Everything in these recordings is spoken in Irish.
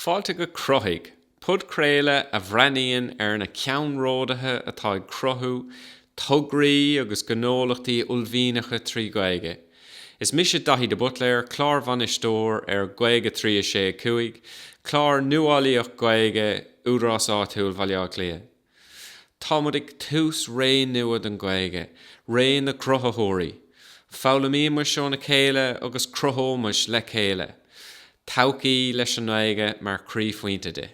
Fáilte go Cruthaigh, podchraoladh a bhreathnaíonn ar na ceannródaithe atá ag cruthú tograí agus gnólachtaí uaillmhianacha trí Ghaeilge. Is mise Daithí de Buitléar, clárbhainisteoir ar Gaeilge 3 6 5, clár nuálaíoch Gaeilge Údarás Áitiúil Bhaile Átha Cliath. Táimid ag tús ré nua don Ghaeilge, ré na gcruthaitheoirí. Foghlaimímis óna chéile agus cruthóimis le chéile todhchaí leis an nGaeilge mar chroíphointe di.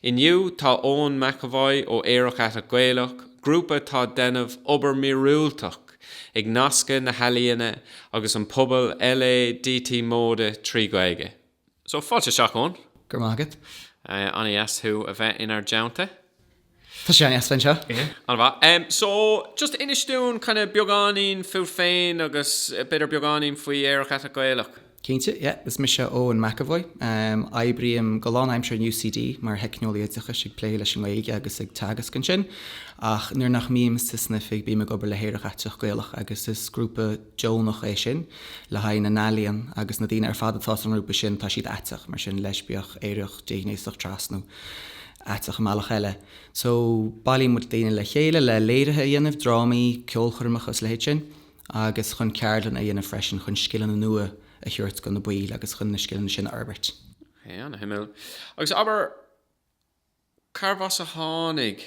Inniu, tá Eoin McEvoy ó Aerach Aiteach Gaelach, grúpa atá ag déanamh obair mhíorúilteach ag nascadh na healaíona agus an pobal LADT móide trí Ghaeilge. So, fáilte isteach, Eoin. Go raibh maith agat. An-dheas thú a bheith inár dteannta. Tá sé an-dheas a bheith anseo. An-mhaith. So, just inis dúinn kind of beagáinín fút féin agus b'fhéidir beagáinín faoi Aerach Aiteach Gaelach. Cinnte, yeah. Is mise Eoin McEvoy. Oibrím go lánaimseartha in UCD mar Theicneolaí Oideachais ag plé leis an nGaeilge agus ag teagasc ansin. Ach nuair nach mbím san oifig bím ag obair le hAerach Aiteach Gaelach agus is grúpa, deonach é sin le haghaidh na n-ealaíon agus na daoine ar fad atá sa ngrúpa sin, tá siad aiteach, mar sin, leispiach, aerach, déghnéasach, tras nó aiteach i mbealach eile. So, bailíonn muid daoine le chéile le léirithe a dhéanamh, drámaí, ceolchoirmeacha is a leithéid sin, agus chun ceardlanna a dhéanamh freisin chun scileanna nua a thabhairt do na baill agus chun na scileanna sin a fhorbairt. An-shuimiúil. Agus abair, carbh as a tháinig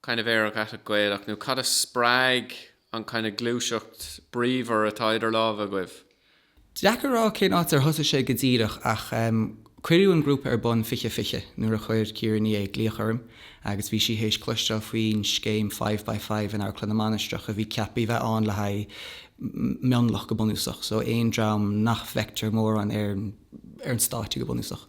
kind of Aerach Aiteach Gaelach nó cad a spreag an kind of gluaiseacht bríomhar atá idir lámha agaibh? Deacair a rá cén áit ar thosaigh sé go díreach ach em cuireadh an grúpa ar bun fiche fiche nuair a chuir Ciara Ní É glaoch orm agus bhí sí théis cloisteáil faoin scéim Five by Five in Amharclann na Mainistreach a bhí ceaptha a bheith ann le haghaidh mionlach go bunúsach so aon dream nach bhfeictear mórán ar ar an stáitse go bunúsach.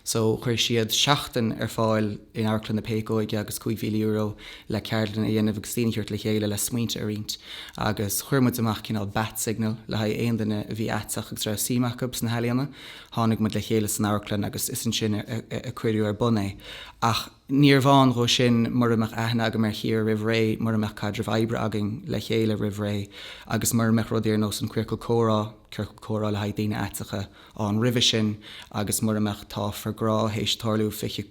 So chuir siad seachtain ar fáil in Amharclann na Péacóige agus €5,000 le ceardlanna a dhéanamh agus daoine a thabhairt le chéile le smaointe a roinnt. Agus chuir muid amach cineál bat signal le haghaidh aon duine a bhí aiteach agus a raibh suim acu sna healaíona. Tháinig muid le chéile san amharclann agus is ansin a cuireadh ar bun é. Ach. Níorbh ann dhó sin mura mbeadh aithne agam ar Chiara roimh ré, mura mbeadh caidreamh oibre againn le chéile roimh ré agus mura mbeadh rudaí ar nós an Queercal Comhrá, ciorcal comhrá le haghaidh daoine aiteacha, ann roimhe sin agus mura mbeadh Tá for Grá théis tarlú fiche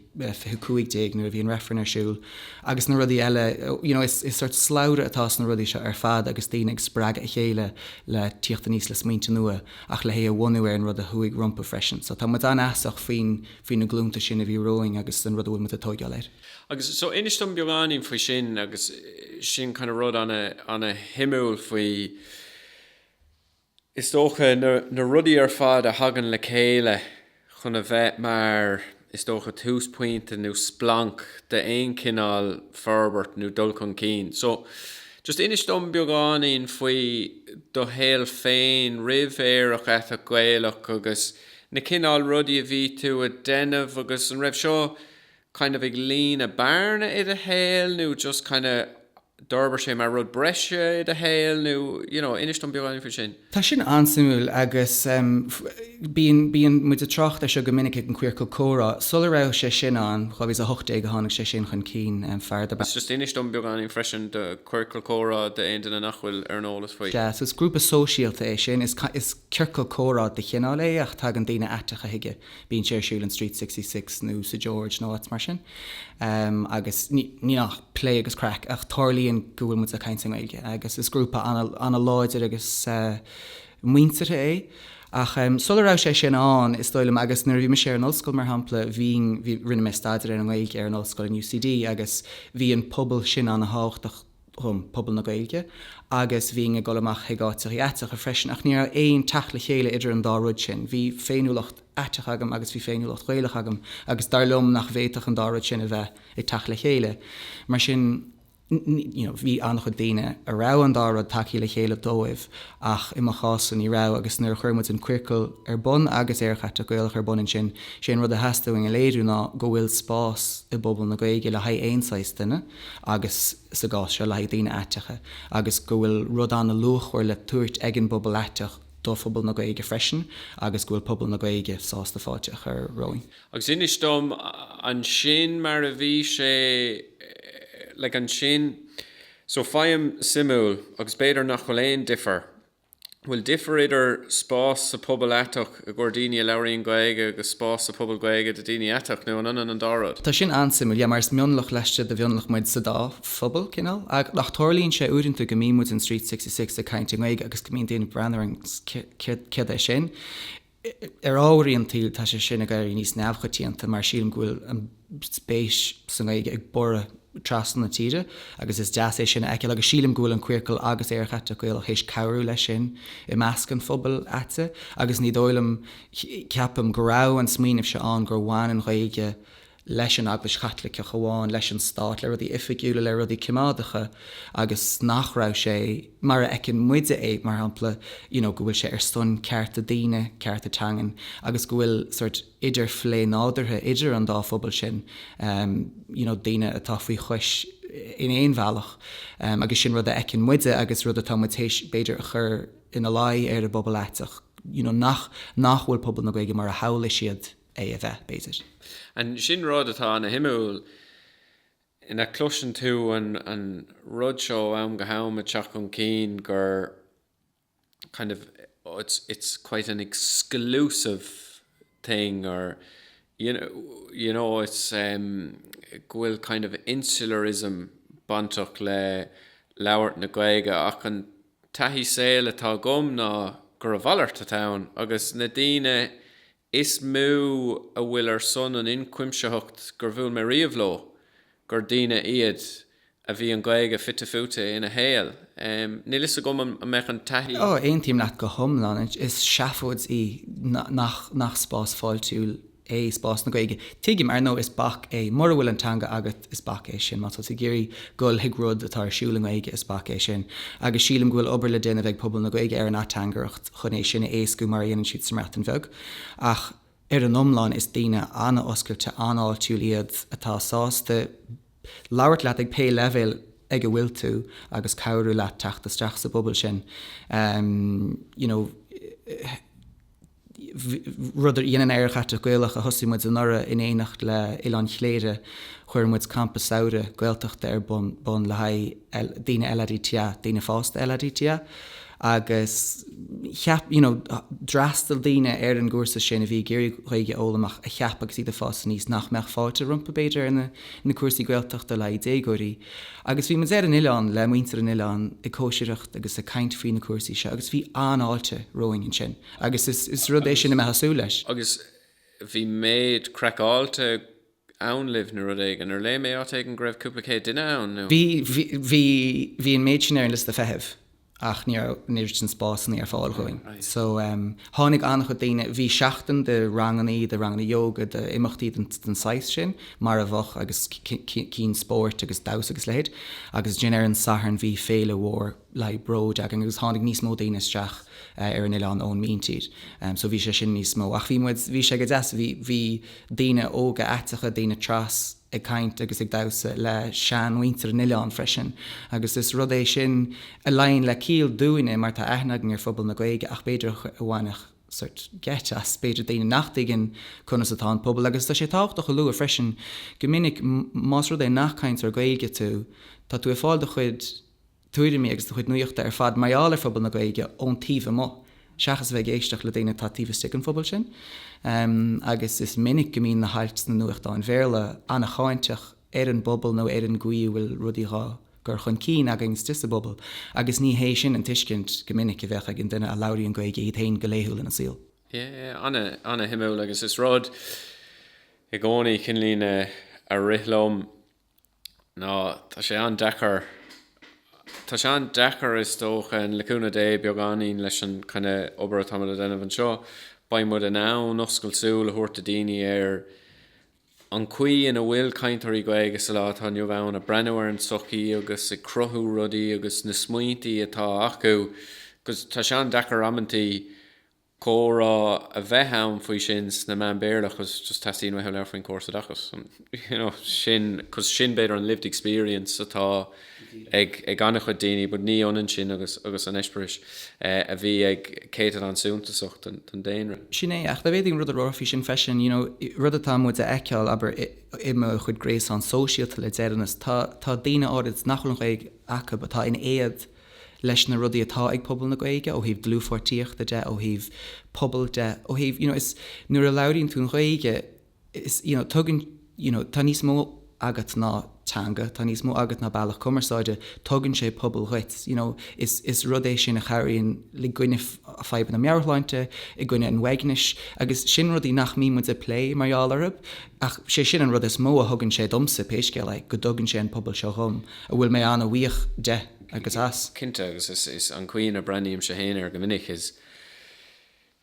cúig déag nuair a bhí an reifreann ar siúl agus na rudaí eile. You know, is sort slabhra atá sna rudaí seo ar fad agus daoine ag spreagadh a chéile le tíocht aníos le smaointe nua ach le hé a bhunú ar an rud a chuaigh rompu freisin. So tá muid an-fheasach faoin faoi na glúnta sin a bhí romhainn agus an rud a bhfuil muid ag tógáil air. Agus so inis dom beagáinín faoi sin agus sin kind of rud an-shuimiúil faoi is dócha na rudaí ar fad a thagann le chéile chun a bheith mar is dócha túsphointe nó splanc d'aon chineál forbairt nó dul chun cinn. So just inis dom beagáinín faoi do shaol féin roimh Aerach Aiteach Gaelach agus na cineál rudaí a bhí tú a' déanamh agus an raibh seo kind of ag líonadh bearna i do shaol nó just kind of d'fhorbair sé mar rud breise i do shaol nó you know inis dom beagáinín faoi sin? Tá sin an-suimiúil agus em bíonn, bíonn muid a' trácht ar seo go minic ag an Queercal Comhrá, sula raibh sé sin ann, 2018 a tháinig sé sin chun cinn, em fear darb ainm. Just inis dom beagáinín freisin de Queercal Comhrá d'aon duine nach bhfuil ar an eolas faoi. Sea, so is grúpa sóisialta é sin, is kind of, is. Ciorcal comhrá de chineál é ach tagann daoine aiteacha chuige, bíonn sé ar siúl in Street Sixty Six nó sa George nó áit mar sin agus níl ach plé agus craic ach tarlaíonn go bhfuil muid ag caint i nGaeilge agus is grúpa an-láidir agus muinteartha é. Ach sula raibh sé sin ann, is dóigh liom, agus nuair a bhí mise ar an ollscoil, mar shampla, bhínn, rinne mé staidéar ar an nGaeilge ar an ollscoil in UCD agus bhí an pobal sin an-tábhachtach dhom, pobal na Gaeilge, agus bhínn ag dul amach chuig áiteachaí aiteacha freisin, ach ní raibh aon teacht le chéile idir an dá rud sin. Bhí féiniúlacht aiteach agam agus bhí féiniúlacht Ghaelach agam agus dar liom nach bhféadfadh an dá rud sin a bheith ag teacht le chéile. Mar sin, you know, bhí an-chuid daoine a raibh an dá rud tagthaí le chéile dóibh ach i mo chás-sa ní raibh agus nuair a chuir muid an Queercal ar bun agus Aerach Aiteach Gaelach ar bun ansin, sé an rud a theastaigh uainn a léiriú ná go bhfuil spás i bpobal na Gaeilge le haghaidh aon saghas duine. agus sa gcás seo le haghaidh daoine aiteacha, agus go bhfuil rud an-luachmhar le tabhairt ag an bpobal aiteach do phobal na Gaeilge freisin agus go bhfuil pobal na Gaeilge sásta fáilte a chur romhainn. Agus inis dom ansin mar a bhí sé, like, ansin. So feidhm suimiúil, agus b'fhéidir nach bhfuil aon difear bhfuil difear idir spás sa pobal aiteach i gcomhair daoine a labhraíonn Gaeilge agus spás sa phobal Gaeilge do dhaoine aiteach, nó an ionann an dá rud? Tá sin an-suimiúil, yeah, mar is mionlach laistigh de mhionlach muid sa dá phobal, cineál. Ach, ach tarlaíonn sé uaireanta go mbíonn muid in Street Sixty Six ag caint i nGaeilge agus go mbíonn daoine ag breathnú orainn, céard é sin? Ar ámharaí an tsaoil, tá sé sin ag éirí níos neamhchoitianta mar sílim go bhfuil an spéis sa nGaeilge ag borradh trasna na tíre agus is deas é sin a fheiceáil agus sílim go bhfuil an Queercal agus Aerach Aiteach Gaelach théis cabhrú leis sin i measc an phobail aitigh agus ní dóigh liom, ceapaim, go raibh an smaoineamh seo ann gur bhain an Ghaeilge leis an Eaglais Chaitliceach amháin, leis an Stát, le rudaí oifigiúla, le rudaí coimeádacha agus nach raibh sé, mar a fheiceann muide é, mar shampla, you know go bhfuil sé ar son cearta daoine, cearta teangan agus go bhfuil sort idirphlé nádúrtha idir an dá phobal sin, you know daoine atá faoi chois in aon bhealach agus sin rud a fheiceann muide agus rud atá muid théis b'fhéidir a chur ina luí ar an bpobal aiteach you know nach nach bhfuil pobal na Gaeilge mar a shamhlaigh siad é a bheith, b'fhéidir. An sin rud atá an-suimiúil ná cloiseann tú an an rud seo ó am go ham ag teacht chun cinn gur kind of it's it's quite an exclusive thing or you know you know it's um go bhfuil kind of insularism bainteach le labhairt na Gaeilge ach an taithí saoil atá agam ná gur a mhalairt atá ann agus na daoine Is mó a bhfuil ar son an ionchuimsitheacht gur bhuail mé riamh leo, gur daoine iad a bhí an Ghaeilge fite fuaite ina shaol. Níl 'fhios agam an mbeadh an taithí. Ó, aontaím leat go hiomlán. Is seafóid í nach spás fáiltiúil é spás na Gaeilge. Tuigim, ar ndóigh, is bac é mura bhfuil an teanga agat Is bac é sin. Má tá tú ag iarraidh dul chuig rud atá ar siúl i nGaeilge, is bac é sin. Agus sílim go bhfuil obair le déanamh ag pobal na Gaeilge ar an ateangaireacht chun é sin a éascú mar a dhéanann siad sa mBreatain Bheag. Ach ar an iomlán is daoine an-oscailte, an-fháiltiúil iad atá sásta labhairt leat ag pé leibhéal ag a bhfuil tú agus cabhrú leat teacht isteach sa bpobal sin, you know. rud a dhéanann Aerach Aiteach Gaelach, a thosaigh muid anuraidh in éineacht le Oileán Chléire, chuir muid campa samhraidh Gaeltachta ar bun le haghaidh daoine LADTA, daoine fásta LADTA, agus cheap, you know, d'fhreastail daoine ar an gcúrsa sin a bhí ag iarraidh Gaeilge a fhoghlaim ach a cheap agus iad ag fás aníos nach mbeadh fáilte rompu b'fhéidir ar na cúrsaí Gaeltachta le haghaidh déagóirí. Agus bhí muid ar an oileán le muintir an oileáin ag cóisireacht agus ag caint faoi na cúrsaí seo agus bhí an-fháilte romhainn ansin. agus is rud é sin a mbeifeá ag súil leis. Agus bhí méid craiceáilte ann libh nó rud éigin, ar léigh mé áit éigin go raibh cúpla céad duine ann nó? Bhí, bhí, bhí, bhí an méid sin ar an liosta feithimh ach ní raibh, ní raibh dóthain spásannaí ar fáil dhúinn. So, em, tháinig an-chuid daoine, bhí seachtain de rangannaí, de ranganna yoga, d'imeachtaí den, den saghas sin, mar a bheadh, agus cinn spóirt agus damhsa agus a leithéid. Agus ansin ar an Satharn bhí féile mhór. le bród againn agus tháinig níos mó daoine isteach ar an oileán ón míntír so bhí sé sin níos mó ach bhí muid, bhí sé go deas, bhí, bhí daoine óga aiteacha, daoine trans ag caint agus ag damhsa le sean mhuintir an oileáin freisin agus is rud é sin a luíonn le ciall dúinne mar tá aithne againn ar phobal na Gaeilge ach b'fhéidir a bhainfeadh sórt geit as b'fhéidir daoine nach dtuigeann conas atá an pobal agus tá sé tábhachtach a lua freisin go minic más rud é nach cainteoir Gaeilge tú tá tú ag fáil do chuid tuairimí agus do chuid nuachta ar fad mar gheall ar phobal na Gaeilge ón taobh amuigh seachas a bheith ag éisteacht le daoine atá taobh istigh den phobal sin agus is minic go mbíonn na hailt sna nuachtáin Bhéarla an-cháinteach ar an bpobal nó ar an gcaoi a bhfuil rudaí dhá gcur chun cinn againn istigh sa bpobal agus ní hé sin an tuiscint go minic a bheadh ag an duine a labhraíonn Gaeilge iad féin go laethúil ina saol. Yeah, an-shuimiúil agus is rud é i gcónaí, cinnlíne, a rith liom. ná tá sé an-deacair, tá sé an-deacair is dócha, le cúnamh Dé, beagáinín leis an gcineál obair atá muid a dhéanamh anseo, beidh muid in ann oscailt súl a thabhairt do daoine ar an chaoi ina bhfuil cainteoirí Gaeilge sa lá atá inniu ann ag breathnú ar an tsochaí agus ag cruthú rudaí agus na smaointí atá acu, 'cause tá sé an-deacair amantaí. comhrá a bheith ann faoi sin sna meáin Béarla because just teastaíonn uathu labhairt faoin córas oideachais and you know sin because sin b'fhéidir an lived experience atá ag ag an-chuid daoine but ní ionann sin agus agus an eispéireas eh, a bhí ag céatadán suntasach den, den daonra. Sin é, ach d'fhéadfaí an rud a rá faoi sin freisin, you know rud atá muid a fheiceáil, abair, i mo chuid gréasán sóisialta le deireanas, tá tá daoine áirid nach bhfuil an Ghaeilge acu atá in éad, leis na rudaí atá ag pobal na Gaeilge ó thaobh dlúthpháirtíochta de, ó thaobh pobail de, ó thaobh, you know, is nuair a labhraíonn tú an Ghaeilge, is, you know, tugann, you know, tá níos mó agat ná teanga, tá níos mó agat ná bealach cumarsáide, tugann sé pobal dhuit, you know, is, is rud é sin a chabhraíonn i gcoinne fadhbanna meabhairshláinte, i gcoinne an uaignis agus sin rudaí nach mbíonn muid ag plé mar gheall orthub ach sé sin an rud is mó a thugann sé domsa pé scéal é, go dtugann sé an pobal seo dhom. a bhfuil mé an-bhuíoch de agus as. Cinnte, agus is é an chaoi ina breathnaímse féin air go minic is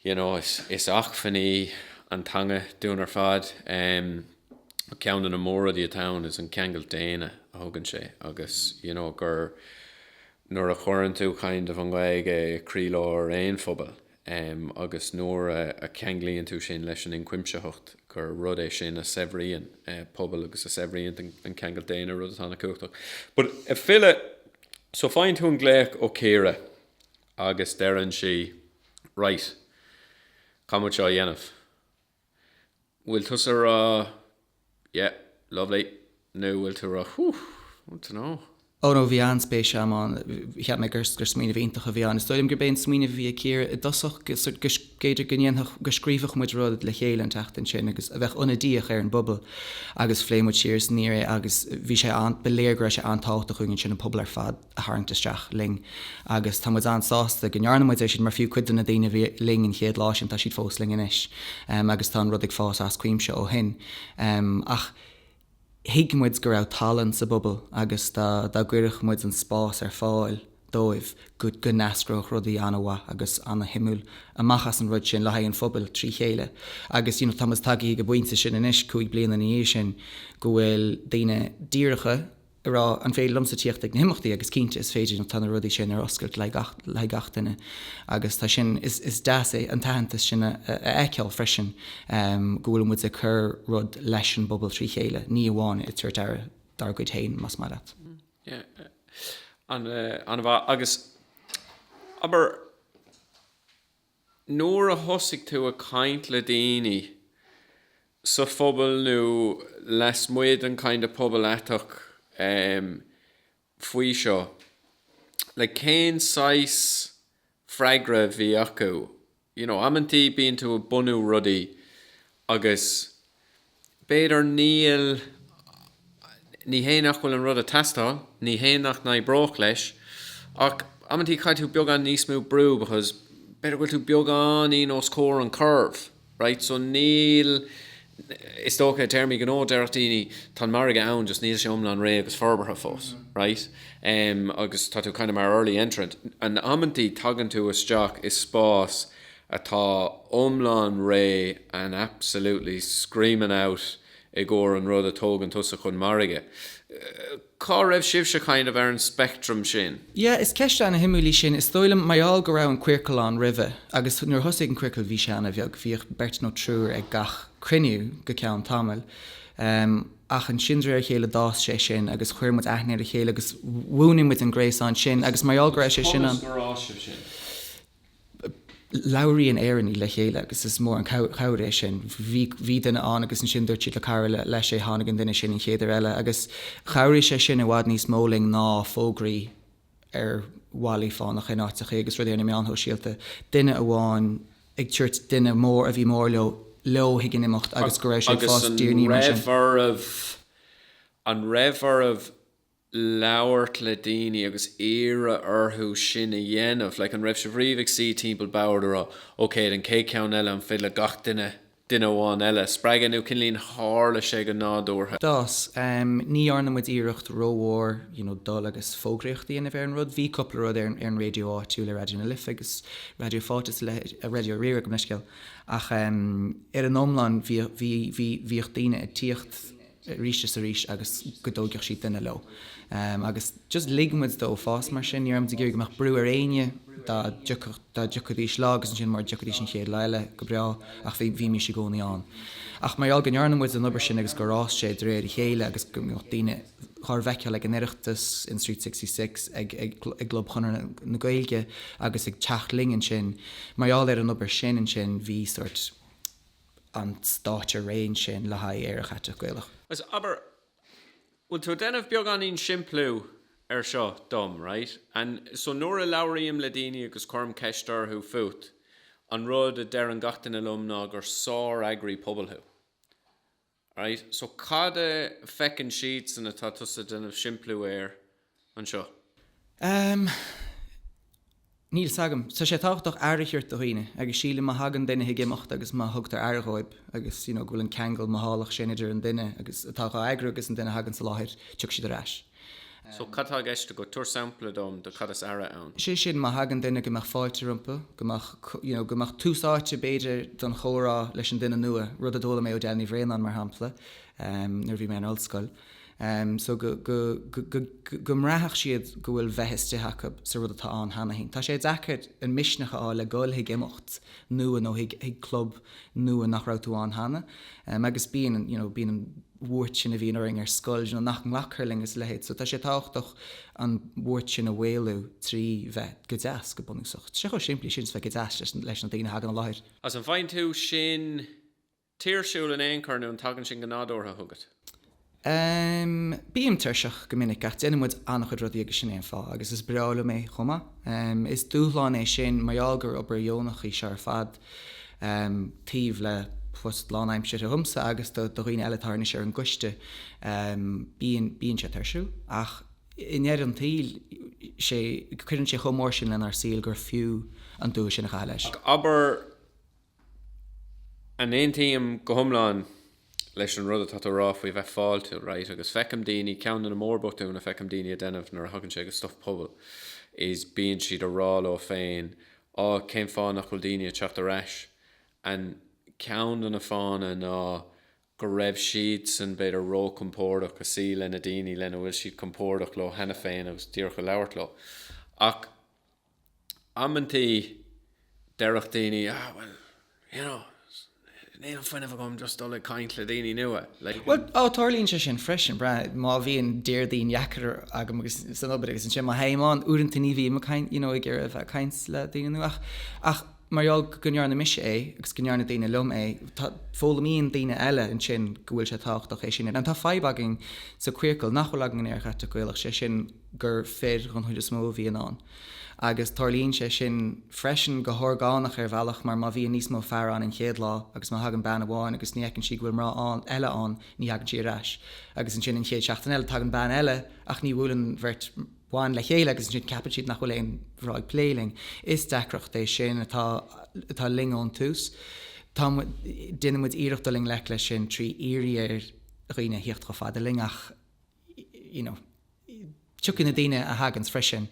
you know is acmhainn í an teanga dúinn ar fad. Ceann de na mór-rudaí atá ann is an ceangal daonna a thugann sé agus you know gur nuair a chuireann tú kind of an Ghaeilge i croílár aon phobail, em agus nuair a a cheanglaíonn tú sin leis an inchuimsitheacht gur rud é sin a shaibhríonn eh pobal agus a shaibhríonn an an ceangal daonna rud atá an-chumhachtach. But ag filleadh so faigheann tú an glaoch ó Chiara agus deireann sí right, caithfidh muid seo a dhéanamh. bhfuil tusa ag rá yeah lovely nó bhfuil tú ag rá whew I don't know. Ó no bhí an-spéis agam ann. Cheap mé gur smaoineamh iontach a bhí ann. Is dóigh liom gurb é an smaoineamh a bhí ag Ciara i dtosach go mb'fhéidir go ndéanfadh go scríobhadh muid rud le chéile an tseachtain sin agus a bheadh ionadaíoch ar an bpobal agus phléigh muid siar is aniar é agus bhí sé an ba léir go raibh sé an-tábhachtach chuige sin an pobal ar fad. a tharraingt isteach linn. Agus tá muid an-sásta go ndearna muid é sin mar fiú cuid de na daoine a bhí linn an chéad lá sin, tá siad fós linn anois agus tá an rud ag fás as cuimse ó shin. Ach thuig muid go raibh tallann sa bpobal agus dá gcuirfeadh muid an spás ar fáil dóibh go n-eascródh rudaí an-mhaith agus an-shuimiúil amach as an rud sin le haghaidh an phobail trí chéile. Agus tá muid tagtha go an bpointe sin anois, cúig bliana ina dhiaidh sin, go bhfuil daoine díreach, a rá, an féidir liomsa tíocht ag na himeachtaí agus cinnte is féidir, tá na rudaí sin ar oscailt le haghaidh gach duine agus tá sin, is deas é an t-aitheantas sin a fheiceáil freisin go bhfuil muid ag cur rud leis an bpobal trí chéile, ní amháin ag tabhairt aire dár gcuid féin más maith leat. An-mhaith agus abair, nuair a thosaigh tú ag caint le daoine sa phobal nó lasmuigh den kind of pobal aiteach em faoi seo, like cén saghas freagra a bhí acu, you know, amantaí bíonn tú ag bunú rudaí agus. B'fhéidir, níl, ní hé nach bhfuil an rud ag teastáil, ní hé nach n-oibreodh leis, ach amantaí caithfidh tú beagán níos mó brú because b'fhéidir go bhfuil tú beagáinín chun tosaigh os comhair an curve, right, so níl, is dócha i dtéarmaí gnó déarfadh daoine tá an margadh ann just níl sé iomlán réidh agus forbartha fós, right, agus tá tú kind of mar early entrant and amantaí tagann tú isteach i spás atá iomlán réidh and absolutely screaming out i gcomhair an rud a thógann tusa chun margaidh. Cá raibh sibhse kind of ar an spectrum sin? Yeah, is ceist ana shuimiúil í sin. Is dóigh liom, mar gheall go raibh an Queercal ann roimhe, agus nuair a thosaigh an Queercal bhí sé ana bheag, bhíodh beirt nó triúr ag gach cruinniú go ceann tamaill. Ach ansin de réir a chéile d'fhás sé sin agus chuir muid aithne ar a chéile agus bhunaigh muid an gréasán sin agus mar gheall go raibh sé sin ann, labhraíonn Éireannaigh le chéile agus is mór an chabhair é sin. Bhí duine ann agus ansin dúirt siad le cara leo é, tháinig an duine sin an chéad uair eile agus chabhraigh sé sin i bhfad níos mó linn ná fógraí ar bhallaí fánacha in áiteachaí agus rudaí ar na meáin shóisialta. Duine amháin ag tabhairt duine mór a bhí mór leo leo chuig an imeacht agus go raibh sé ag fás de réir mar sin. Agus an raibh oraibh? An raibh oraibh? labhairt le daoine agus iarraidh orthu sin a dhéanamh, like an raibh sibh riamh ag suí timpeall boird ag rá ok an chéad cheann eile an féidir le gach duine, duine amháin eile a spreagadh nó cinnlín tharla sé go nádúrtha? D'fhás. em ní dhearna muid iarracht rómhór you know dul agus fógraíocht a dhéanamh ar an rud, bhí cúpla rud ar an ar an raidió áitiúil ar Raidió na Life agus Raidió Fáilte is a leithéid, a Raidió Rí-Rá gabh mo leithscéal ach em ar an iomlán bhíodh bhí bhí bhíodh daoine ag tíocht, arís is arís agus go dtóigfeadh siad duine leo. Agus just lig muid dó fás mar sin. Ní raibh muid ag iarraidh go mbeadh brú ar éinne, dá dtiocfadh, dá dtiocfaidís lá agus ansin mura dtiocfaidís an chéad lá eile, go breá, ach bhí, bhímís i gcónaí ann. Ach mar gheall go ndearna muid an obair sin agus gur fhás sé de réir a chéile agus go mbeadh daoine dhár bhfeiceáil ag an Oireachtas, in Street Sixty Six, ag, ag, i gClub Chonradh na Gaeilge agus ag teacht linn ansin, mar gheall ar an obair sin ansin bhí sórt, an stáitse réidh ansin le haghaidh Aerach Aiteach Gaelach. Abair, bhfuil tú ag déanamh beagáinín simpliú ar seo dom, right? And so nuair a labhraím le daoine agus cuirim ceist orthu fút, an rud a deireann gach duine liom ná gur sár-eagraí pobail thú. Right, so cad a feiceann siadsan atá tusa ag déanamh simpliú air anseo? Ehm, níl 's agam. Tá sé tábhachtach aire a thabhairt do dhaoine agus sílim má thagann duine chuig imeacht agus má thugtar aire dhóib agus, you know, go bhfuil an ceangal mothálach sin idir an duine agus atá dhá eagrú agus an duine a thagann sa láthair, tiocfaidh siad ar ais. So, cad tá i gceist agat? Tabhair sampla dom de cad is aire ann. sé sin, má thagann duine, go mbeadh fáilte rompu, go mbeadh, you know, go mbeadh tús áite b'fhéidir don chomhrá leis an duine nua, rud a d'fhoghlaim mé ó Dean Ní Bhraonáin mar shampla, ehm, nuair a bhí mé in ollscoil. Ehm, so go, go, go, go, go, go mbraitheadh siad go bhfuil bheith istigh acu sa rud atá ann cheana féin. Tá sé deacair an misneach a fháil le dhul chuig imeacht nua nó chuig, chuig club nua nach raibh tú ann cheana. Ehm, agus bíonn an, you know, bíonn an. bhuairt sin a bhíonn orainn ar scoil nó nach nglacfar linn is a leithéid. So tá sé tábhachtach an bhuairt sin a mhaolú trí bheith go deas, go bunúsach. Tá sé chomh simplí sin is bheith go deas leis na daoine a thagann i láthair. Is an bhfaigheann tú sin tuirsiúil in aon chor nó an dtagann sin go nádúrtha chugat? Em, bím tuirseach go minic ach déanann muid an-chuid rudaí agus sin é an fáth agus is breá liom é chomh maith. Em, is dúshlán é sin mar gheall gur obair dheonach í seo ar fad. taobh le post lánaimseartha dhomsa agus do dhaoine eile atá anois ar an gcoiste, bíonn sé tuirsiúil ach i ndeireadh an tsaoil, sé, cuireann sé chomh mór sin lenár saol gur fiú an dua sin a chaitheamh leis. Ach abair, an aontaím go hiomlán leis an rud atá tú a rá faoi bheith fáiltiúil, right, agus feicim daoine, ceann de na mórbhotúin a fheicim daoine ag déanamh nuair a thagann sé go stuff pobail is bíonn siad ag rá leo féin á cén fáth nach bhfuil daoine ag teacht ar ais and ceann de na fáthanna ná go raibh siadsan b'fhéidir ró-chompordach ag suí leis na daoine lena bhfuil siad compordach leo cheana féin agus díreach ag labhairt leo ach Amantaí déarfadh daoine, Ah, bhuel, you know, níl an fuinneamh agam just dul ag caint le daoine nua, like. Bhuel, oh, tarlaíonn sé sin freisin, breathnaigh, má bhíonn Déardaoin dheacair agam agus, san obair agus ansin má théim ann, uaireanta ní bhím ag caint, you know, ag iarraidh a bheith ag caint le daoine nua ach, ach, mar gheall go ndearna mise é agus go ndearna daoine liom é, foghlaimíonn daoine eile ansin go bhfuil sé tábhachtach é sin a. Tá fadhb againn sa Queercal nach bhfuil againn in Aerach Aiteach Gaelach, sé sin gur fir den chuid is mó a bhíonn ann. Agus tarlaíonn sé sin freisin go horgánach ar bhealach mar má bhíonn níos mó fear ann an chéad lá agus má thagann bean amháin agus ní fheiceann sí go bhfuil mná eile ann ní thagann sí ar ais agus ansin an chéad seachtain eile tagann bean eile ach ní bhuaileann an bheirt ban le chéile agus ansin ceapann siad nach bhfuil aon mhná ag plé linn. Is deacracht é sin atá linn ón tús. Déanann muid iarracht dul i ngleic leis sin trí iarraidh ar dhaoine a thíocht chomh fada linn ach you know tiocfaidh na daoine a thaganns freisin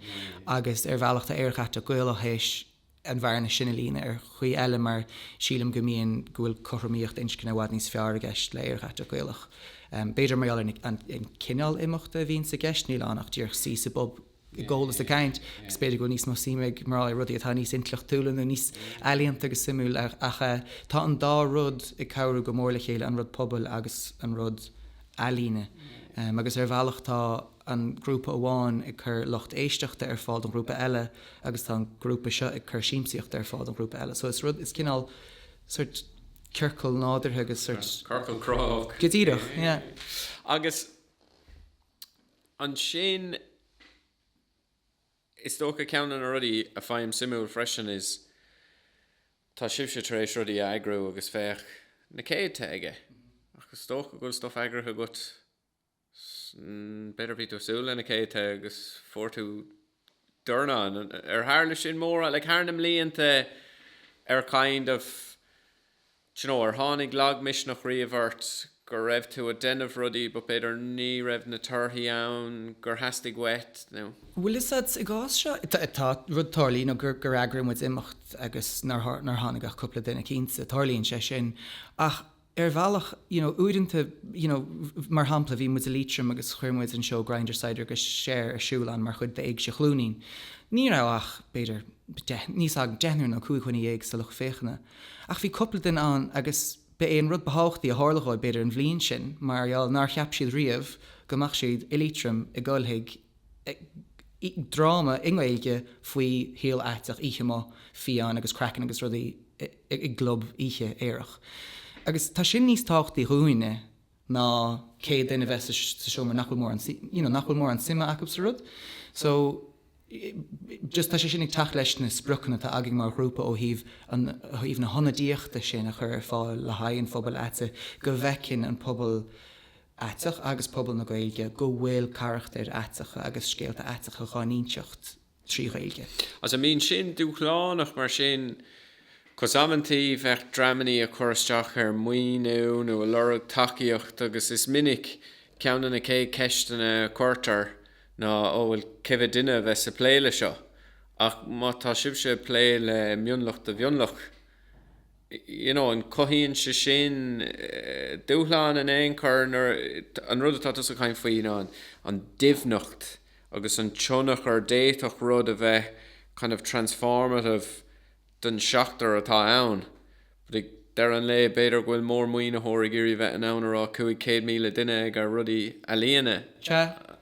agus ar bhealach tá Aerach Aiteach Gaelach théis an bhearna sin a líonadh ar chaoi eile mar sílim go mbíonn, go bhfuil cothromaíocht inscne i bhfad níos fearr i gceist le Aerach Aiteach Gaelach. B'fhéidir mar gheall ar an an cineál imeachta a bhíonns i gceist, níl ann ach díreach suí sa bpub ag ól is ag caint agus b'fhéidir go bhfuil níos mó suime ag mná i rudaí atá níos intleachtúla nó níos ealaíonta agus suimiúil ach ach eh tá an dá rud ag cabhrú go mór le chéile, an rud pobail agus an rud ealaíne. Agus ar bhealach tá. an grúpa amháin ag cur lucht éisteachta ar fáil don ghrúpa eile agus tá an grúpa seo ag cur siamsaíochta ar fáil don ghrúpa eile. So is rud, is cineál sort ciorcal nádúrtha agus sort. Ciorcal cruthaitheach. Go díreach, yeah. Agus ansin is dócha ceann de na rudaí a fhaighim suimiúil freisin is tá sibhse tar éis rudaí a eagrú agus féach na céadta aige ach is dócha go bhfuil stuff eagraithe agat B'fhéidir bhí tú ag súil leis na céadta agus fuair tú dornán. Ar tharla sin mórán, like, thar na mblianta, ar kind of, d'you know, ar tháinig lagmisneach riamh ort go raibh tú ag déanamh rudaí but b'fhéidir ní raibh na torthaí ann gur theastaigh uait nó. Bhfuil 'fhios a'd, i gcás seo, tá rud tarlaíonn, you know, gur eagraigh muid imeacht agus nár tháinig ach cúpla duine, cinnte, tarlaíonn sé sin ach, ar bhealach, you know uaireanta you know mar shampla bhí muid i Liatroim agus chuir muid an seó Grindr, Saghdar agus Cher ar siúl ann mar chuid d'Éigse Chluainín. Ní raibh ach, b'fhéidir, deich, níl fhios agam deichniúr nó cúig dhuine dhéag sa lucht féachana. Ach bhí cúpla duine ann agus ba é an rud ba thábhachtaí a tharla dhóibh b'fhéidir an bhliain sin mar gheall nár cheap siad riamh go mbeadh siad i Liatroim i gCoillte Clochair i dráma i nGaeilge faoi shaol aiteach, oíche amuigh, fiáin agus craiceann agus rudaí i gclub oíche aerach. Agus tá sin níos tábhachtaí dúinne ná céad duine a bheith sa seomra nach bhfuil mórán, you know, nach bhfuil mórán suime acub sa rud. So, just tá sé sin ag teacht leis na spriocanna atá againn mar ghrúpa ó thaobh an, ó thaobh na hionadaíochta sin a chur ar fáil le haghaidh an phobail aite, go bhfeiceann an pobal, aiteach agus pobal na Gaeilge go bhfuil carachtair aiteacha agus scéalta aiteacha dhá n-inseacht trí Ghaeilge. Agus an mbíonn sin dúshlánach mar sin, cos amanntaí bheadh dreamannaí a chur isteach ar mhaoiniú nó a lorg tacaíocht agus is minic ceann de na chéad cheisteanna a cuirtear ná ó bhuel cé mhéad duine a bheas ag plé le seo ach má tá sibhse ag plé le mionlach de mhionlach you know an cothaíonn sé sin dúshlán in aon chor nuair, an rud atá tusa a chaint faoi you know an an doimhneacht agus an tionchar, d'fhéadfadh rud a bheith kind of transformative don seachtar atá ann but ag deireadh an lae b'fhéidir go bhfuil mórmhaoinitheoir ag iarraidh bheith in ann a rá 500,000 duine ag ar rudaí ealaíona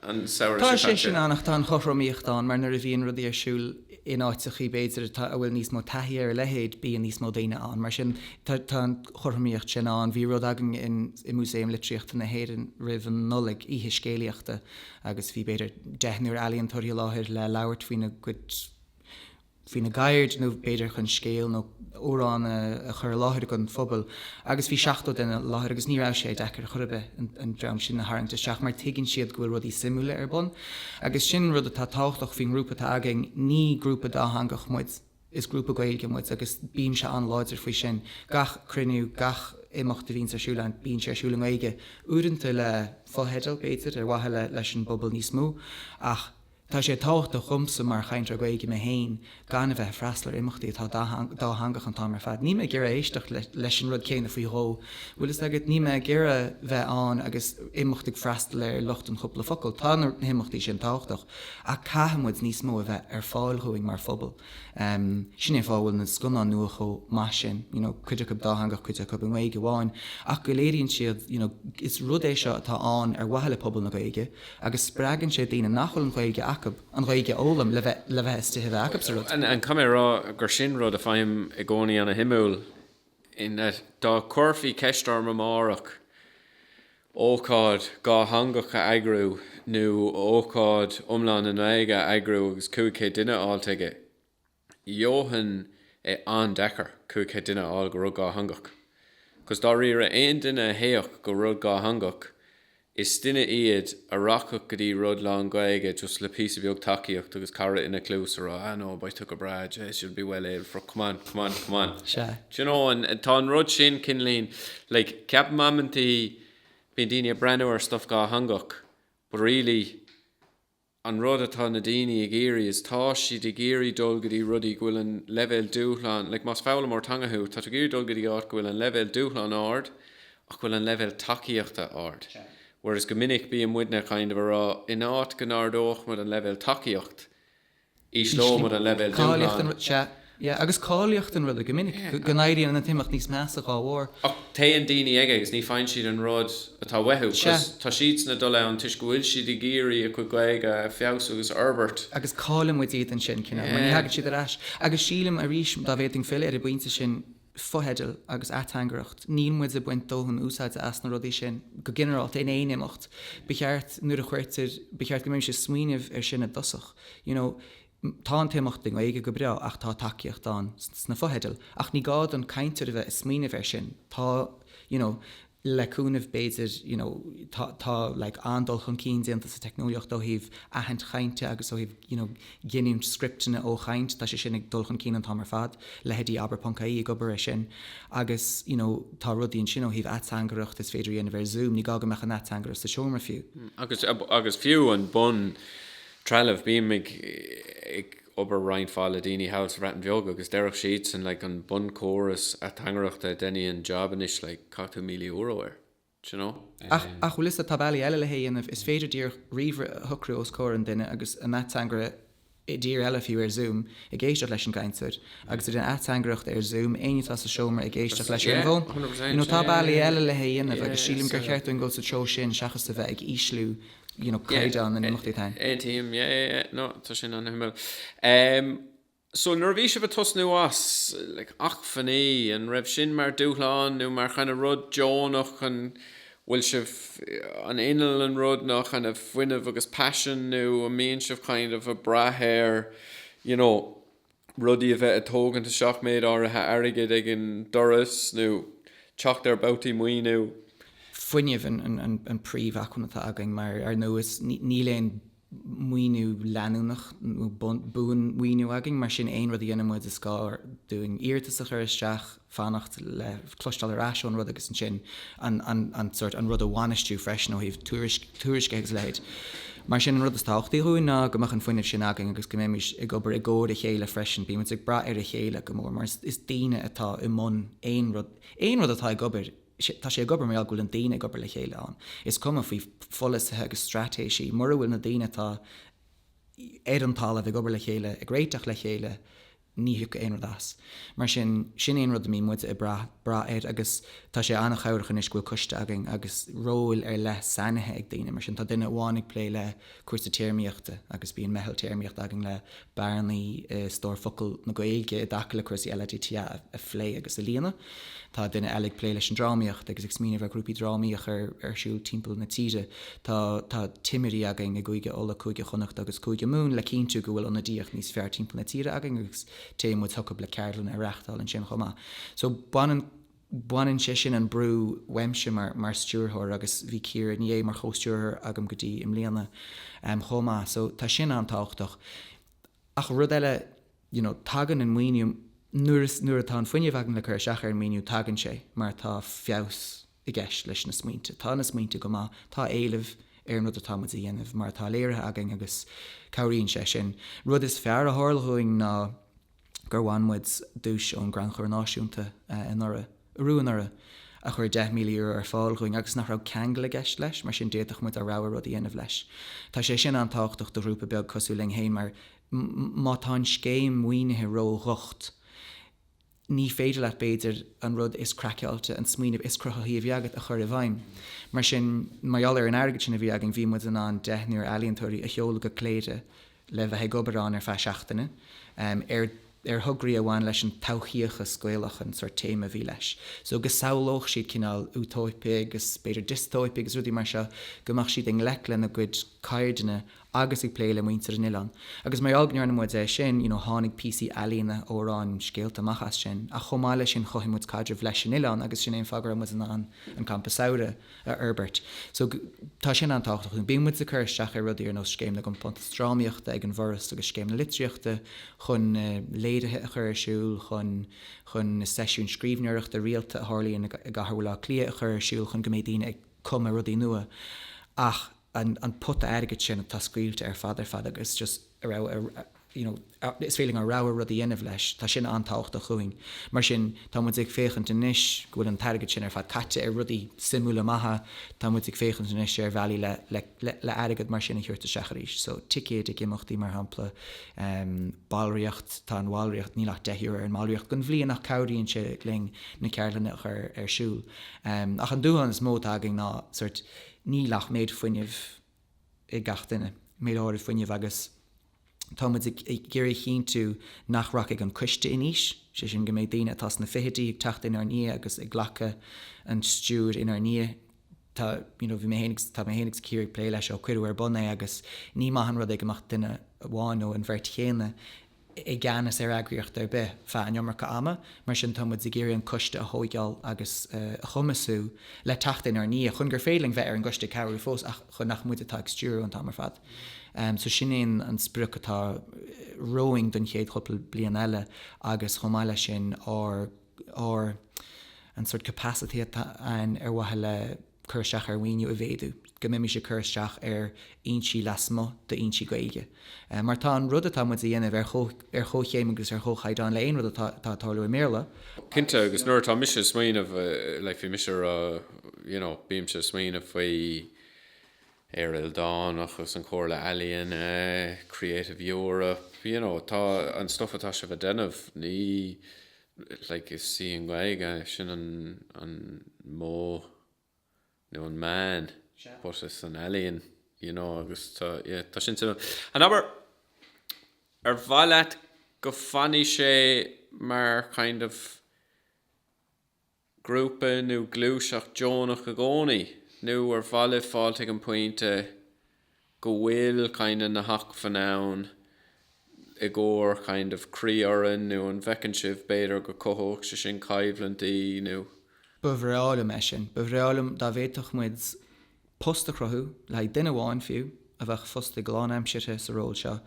an samhradh seo caite. Sea. Tá sé sin ann ach tá an chothromaíocht ann mar nuair a bhíonn rudaí ar siúl in áiteachaí b'fhéidir atá, a bhfuil níos mó taithí ar a leithéid beidh níos mó daoine ann. Mar sin tá tá an chothromaíocht sin ann. Bhí rud againn in i Músaem Litríochta na hÉireann roimh an Nollaig, oíche scéalaíochta agus bhí b'fhéidir deichniúr ealaíontóirí i láthair le labhairt faoina gcuid faoina gceird nó b'fhéidir chun scéal nó amhrán a chur i láthair dhon phobal agus bhí 70 duine i láthair agus ní raibh sé deacair chor ar bith an dream sin a tharraingt isteach mar tuigeann siad go bhfuil rudaí suimiúla ar bun agus sin rud atá tábhachtach faoin ngrúpa atá againn, ní grúpa dátheangach muid, is grúpa Gaeilge muid agus bímse an-láidir faoi sin. Gach cruinniú, gach imeacht a bhíonns ar siúl againn, bíonn sé ar siúl i nGaeilge, uaireanta le fo-theidil b'fhéidir ar mhaithe leis an bpobal níos mó ach, Tá sé tábhachtach dhomsa mar chainteoir Gaeilge mé féin gan a bheith ag freastal ar imeachtaí atá dátheangach an t-am ar fad. Níl mé ag iarraidh éisteacht leis an rud céanna faoi dhó, bhfuil fhios agat, níl mé ag iarraidh bheith ann agus imeacht ag freastal ar lucht an chúpla focal. Tá na himeachtaí sin tábhachtach ach caithfidh muid níos mó a bheith ar fáil dhúinn mar phobal. Sin é an fáth a bhfuil na scannáin nua chomh maith sin, you know cuid acu dátheangach cuid acu i nGaeilge amháin ach go léiríonn siad you know is rud é seo atá ann ar mhaithe le pobal na Gaeilge, agus spreagann sé daoine nach bhfuil an Ghaeilge acu an Ghaeilge a fhoghlaim le bheith le bheith in ann na tithe a bheith acu sa rud. And caithfidh mé a rá gur sin rud a faighim i gcónaí an-suimiúil, ná dá gcuirfí ceist orm amárach ócáid dhátheangach a eagrú nó ócáid iomlán i nGaeilge a eagrú agus 500 duine á fháilt aige, gheofá é an-deacair cúig chéad duine a fháil go rud dhátheangach. Agus dáiríre, aon duine a théadh go rud dhátheangach, is duine iad a rachadh go dtí rud lán-Ghaeilge just le píosa beag tacaíocht agus cara ina chluas a rá, ah no, beidh tú go breá, jeez, you'll be well able for it, come on, come on, come on. Sea. Do you know, tá an rud sin, cineál i, like, ceapaim amantaí bíonn daoine ag breathnú ar stuff dhátheangach but really, an rud atá na daoine ag iarraidh is tá siad ag iarraidh dul go dtí rudaí go bhfuil an leibhéal dúshlán like más foghlaimeoir teanga thú tá tú ag iarraidh dul go dtí áit go bhfuil an leibhéal dúshlán ard ach go bhfuil an leibhéal tacaíochta ard whereas go minic bíonn muidne kind of a rá in áit go n-ardódh muid an leibhéal tacaíocht ísleoidh muid an leibhéal dúshláin. Sea, agus cáilíocht an ruda, go minic, go n-éiríonn an t-imeacht níos measa dá bharr. Ach téann daoine aige agus ní faigheann siad an rud atá uathu. Sea. Tá siadsan ag dul ann toisc go bhfuil siad ag iarraidh a gcuid Gaeilge a feabhsú agus a fhorbairt. Agus caillfimid iad ansin, cineál, mar ní thagann siad ar ais. Agus sílim, arís, dá bhféadfainn filleadh ar an bpointe sin, fotheidil agus ateangaireacht, níl muid ag baint dóthain úsáide as na rudaí sin go ginearálta in aon imeacht. Ba cheart, nuair a chuirtear, ba cheart go mbeimis ag smaoineamh air sin i dtosach, you know tá an t-imeacht i nGaeilge, go breá, ach tá tacaíocht ann sna fotheidil ach ní gá don chainteoir a bheith ag smaoineamh air sin, tá, you know. le cúnamh b'fhéidir you know tá tá like an-dul chun cinn déanta sa teicneolaíocht ó thaobh aithint chainte agus ó thaobh you know giniúint scripteanna ó chaint, tá sé sin ag dul chun cinn an t-am ar fad, leithéidí abair ponc ie ag obair air sin agus you know tá rudaí ansin ó thaobh ateangaireacht is féidir a dhéanamh ar Zoom, ní gá go mbeadh an ateangaire sa seomra fiú. Agus agus fiú an bun trealamh bím ag ag obair roinnt mhaith le daoine thall sa Bhreatain Bheag agus deirfeadh siadsan like an bunchóras ateangaireachta a dhéanfadh an job anois like caith tú míle euro air do you know. Ach ach bhfuil fhios a'd tá bealaí eile le hé dhéanamh, is féidir díreach ríomhaire a shocrú os comhair an duine agus an ateangaire i dtír eile fiú ar zoom ag éisteacht leis an gcainteoir agus ag déanamh ateangaireachta ar zoom éinne atá sa seomra ag éisteacht leis ar an bhfón you know tá bealaí eile le hé dhéanamh agus sílim gur cheart dúinn dhul sa treo sin seachas a bheith ag ísliú you know, caighdeán na n-imeachtaí atá ann. Cinnte, yeah, yeah, yeah, no, tá sin an-shuimiúil. Em, so nuair a bhí sibh ag tosnú as, like, acmhainní, an raibh sin mar dúshlán nó mar kind of rud deonach chun, bhfuil sibh, an inneall an rud ná kind of fuinneamh agus passion nó an mbíonn sibh kind of ag brath ar, you know, rudaí a bheith ag tógaint isteach méid áirithe airgid ag an doras nó teacht ar bhabhtaí maoiniú. fuinneamh an príomh acmhainn atá againn mar ar ndóigh níl aon maoiniú leanúnach nó buan maoiniú againn mar sin aon rud a dhéanann muid is gá dúinn iarratas a chur isteach, fanacht le cloisteáil ar ais ón rud agus ansin an rud a bhainistiú freisin ó thaobh tuairisce agus a leithéid. Mar sin, an rud is tábhachtaí dhúinn ná go mbeadh an fuinneamh sin againn agus go mbeimid ag obair i gcomhar a chéile freisin. Bímid ag brath ar a chéile go mór mar is daoine atá i mbun aon rud. Aon rud atá ag obair, tá sé ag obair mar gheall go bhfuil na daoine ag obair le chéile ann. Is cuma faoi pholasaithe agus straitéisí, mura bhfuil na daoine atá ar an talamh ag obair le chéile, ag réiteach le chéile, Ní thiocfaidh aon rud as. Mar sin, sin é an rud a mbíonn muide ag brath, brath air agus tá sé an-chabhrach anois go bhfuil coiste againn agus róil ar leith sainithe ag daoine. Mar sin, tá duine amháin ag plé le cúrsaí téarmaíochta agus bíonn meitheal téarmaíochta againn le bearnaí i stór focal na Gaeilge i dtaca le cúrsaí LADTA a phlé agus a líonadh. Tá duine eile ag plé leis an drámaíocht agus ag smaoineamh ar ghrúpaí drámaí a chur ar siúl timpeall na tíre. Tá timirí againn i gCúige Uladh, Cúige Chonnacht agus Cúige Mumhan le cinntiú go bhfuil ionadaíocht níos fearr timpeall na tíre againn agus téann muid chucu le ceardlanna a reáchtáil ansin chomh maith. So baineann sé sin an brú uaimse mar stiúrthóir agus bhí Ciara Ní É mar chomhstiúrthóir agam go dtí i mbliana chomh maith so tá sin an-tábhachtach. Ach rud eile, you know tagann an maoiniú nuair is, nuair atá an fuinneamh againn le cur isteach ar an maoiniú, tagann sé mar tá feabhas i gceist leis na smaointe. Tá na smaointe go maith, tá éileamh ar an rud atá muid a dhéanamh mar atá léirithe againn agus cabhraíonn sé sin. Rud is fearr a tharla dhúinn ná gur bhain muid duais ón gCrannchur Náisiúnta anuraidh, arú anuraidh, a chuir €10,000 ar fáil dhúinn agus nach raibh ceangal i gceist leis mar sin d'fhéadfadh muid ár rogha rud a dhéanamh leis. Tá sé sin an-tábhachtach do ghrúpa beag cosúil linn féin mar má tá an scéim mhaoinithe ró-dhocht, ní féidir leat, b'fhéidir, an rud is craiceáilte, an smaoineamh is cruthaithí a bhí agat a chur i bhfeidhm. Mar sin, mar gheall ar an airgead sin a bhí againn, bhí muid in ann deichniúr ealaíontóirí a sheoladh go Cléire le bheith ag obair ann ar feadh seachtaine, ar ar thograí a bhain leis an todhchaíochas Gaelach an sórt téama a bhí leis. So, go samhlódh siad cineál Útóipe agus, b'fhéidir, Diostóipe agus rudaí mar seo, go mbeadh siad i ngleic lena gcuid ceardaíne agus ag plé le muintir an oileáin agus mar gheall go ndearna muid é sin you know tháinig píosaí ealaíne, amhráin, scéalta amach as sin ach chomh maith leis sin chothaigh muid caidreamh leis an oileán agus sin é an fáth go raibh muid in ann an Campa Samhraidh a fhorbairt so tá sin an-tábhachtach dúinn. Bíonn muid ag cur isteach ar rudaí ar nós Scéim na gCompántas Drámaíochta ag an bhForas agus Scéim na Litríochta chun na léirithe a chur ar siúl, chun chun na seisiúin scríbhneoireachta rialta a tharlaíonn i gcathair Bhaile Átha Cliath a chur ar siúl chun go mbeidh daoine ag cumadh rudaí nua ach an an pota airgid sin atá scaoilte ar fad ar fad agus just you know is féidir linn ár rogha rud a dhéanamh leis, tá sin an-tábhachtach dhúinn. Mar sin, tá muid ag féachaint anois go bhfuil an t-airgead sin ar fad caite ar rudaí suimiúla maithe, tá muid ag féachaint anois ar bhealaí le le le airgead mar sin a thabhairt isteach arís. So ticéid ag imeachtaí mar shampla, em ballraíocht, tá an bhallraíocht, níl ach deich euro ar an mballraíocht don bhliain ach cabhraíonn sé linn na ceardlanna a chur ar siúl. Em ach an dúshlán is mó atá againn ná sóirt níl ach an méid fuinnimh ag gach duine, méid áirithe fuinnimh, agus tá muid ag iarraidh a chinntiú nach rachaidh an coiste in aois, sé sin go mbeidh daoine atá sna fichidí ag teacht inár ndiaidh agus ag glacadh an stiúir inár ndiaidh. Tá, you know, bhí mé féin agus, tá mé féin agus Ciara ag plé leis ó cuireadh ar bun é agus ní maith an rud é go mbeadh duine amháin nó an bheirt chéanna, i gceannas ar eagraíocht ar bith feadh an iomarca ama, mar sin tá muid ag iarraidh an coiste a thóigeáil agus a chumasú le teacht inár ndiaidh, chun gur féidir linn bheith ar an gcoiste ag cabhrú fós ach chun nach muid atá ag stiúradh an t-am ar fad. So sin é an sprioc atá romhainn don chéad chúpla bliain eile agus chomh maith leis sin ar an sort capacity atá ann ar mhaithe le cur isteach ar mhaoiniú a mhéadú, go mbeimis ag cur isteach ar fhoinsí lasmuigh d'fhoinsí Gaeilge. Mar tá an rud atá muid a dhéanamh ar chomhchéim agus ar chomhchaighdeán le aon rud atá ag tarlú i mBéarla. Cinnte, agus nuair atá mise ag smaoineamh, like, bhí mise a rá, you know, bímse ag smaoineamh faoi Éire Ildánach agus an Chomhairle Ealaíon, Creative Europe, you know, tá an stuff atá sibh a dhéanamh, ní, like is í an Ghaeilge sin an an modh nó an meán but is an ealaíon you know agus tá yeah, tá sin an obair ar mhaith leat go fanfaidh sé mar kind of grúpa nó gluaiseacht deonach i gcónaí nó ar mhaith libh fáilt ag an bpointe go bhfuil kind of na hacmhainn ann i gcomhair kind of croífhoireann nó an bhfeiceann sibh b'fhéidir go cothódh sé sin coimhlintí nó. Ba bhreá liom é sin. Ba bhreá liom dá bhféadfadh muid post a chruthú, le haghaidh duine amháin fiú, a bheadh fostaithe lánaimseartha sa ról seo,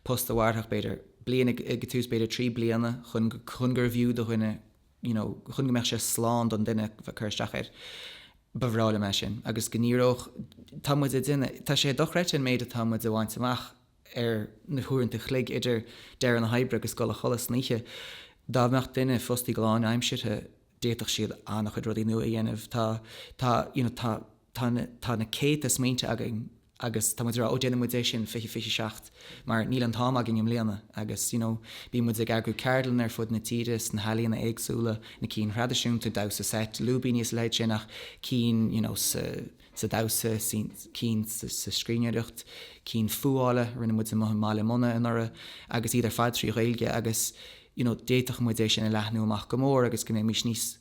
post a mhairfeadh b'fhéidir bliain ag an tús b'fhéidir trí bliana chun go chun gurbh fhiú do dhuine you know chun go mbeadh sé slán don duine bheith cur isteach air ba bhreá liom é sin agus go ndíreodh tá muid ag déanamh tá sé dochreidte an méid atá muid a bhaint amach ar na huaireanta chloig idir deireadh na hoibre agus dul a chodladh san oíche dá mbeadh duine fostaithe go lánaimseartha d'fhéadfadh siad an-chuid rudaí nua a dhéanamh tá tá you know tá Tá na, tá na céadta smaointe againn agus tá muid ag rá 'ó déanfaidh muid é sin, fiche, fiche seacht', mar níl an t-am againn i mbliana agus you know bíonn muid ag eagrú ceardlanna ar fud na tíre sna healaíona éagsúla, na cinn thraidisiúnta, damhsa seit, lúibíní is a leithéid sin ach cinn you know sa, sa damhsa, cinn sa scríbhneoireacht, cinn fuála, rinne muid amuigh i mBaile Munna anuraidh agus iad ar fad trí Ghaeilge agus you know d'fhéadfadh muid é sin a leathnú amach go mór agus go mbeimís níos,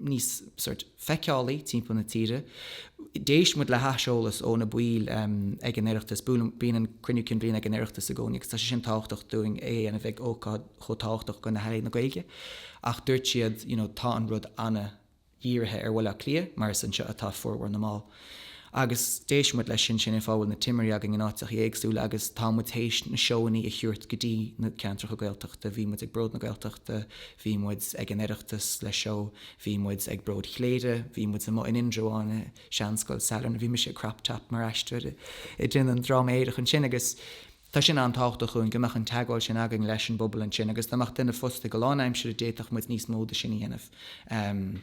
níos sórt feiceálaí timpeall na tíre. D'éist muid le haiseolas ó na baill ag an Oireachtas. Bíonn an Cruinniú Cinn Bhliana ag an Oireachtas i gcónaí agus tá sé sin tábhachtach dúinn féin a bheith ag ócáid chomh tábhachtach do na healaíona Gaeilge. Ach dúirt siad you know tá an rud an-dírithe ar Bhaile Átha Cliath mar is anseo atá formhór na mball. Agus d'éist muid leis sin, sin an fáth a bhfuil na timirí againn in áiteachaí éagsúla agus tá muid théis na seóannaí a thiúirt go dtí na ceantracha Gaeltachta. Bhí muid ag Bród na Gaeltachta, bhí muid ag an Oireachtas le seó, bhí muid ag Bród Chléire, bhí muid amuigh in Indreabhán i Seanscoil Sailearna, bhí mise i crop top mar aisteoir ag déanamh an dráma aerach ansin agus tá sin an-tábhachtach dhúinn go mbeadh an teagmháil sin againn leis an bpobal ansin agus dá mbeadh duine fostaithe go lánaimsire d'fhéadfadh muid níos mó de sin a dhéanamh.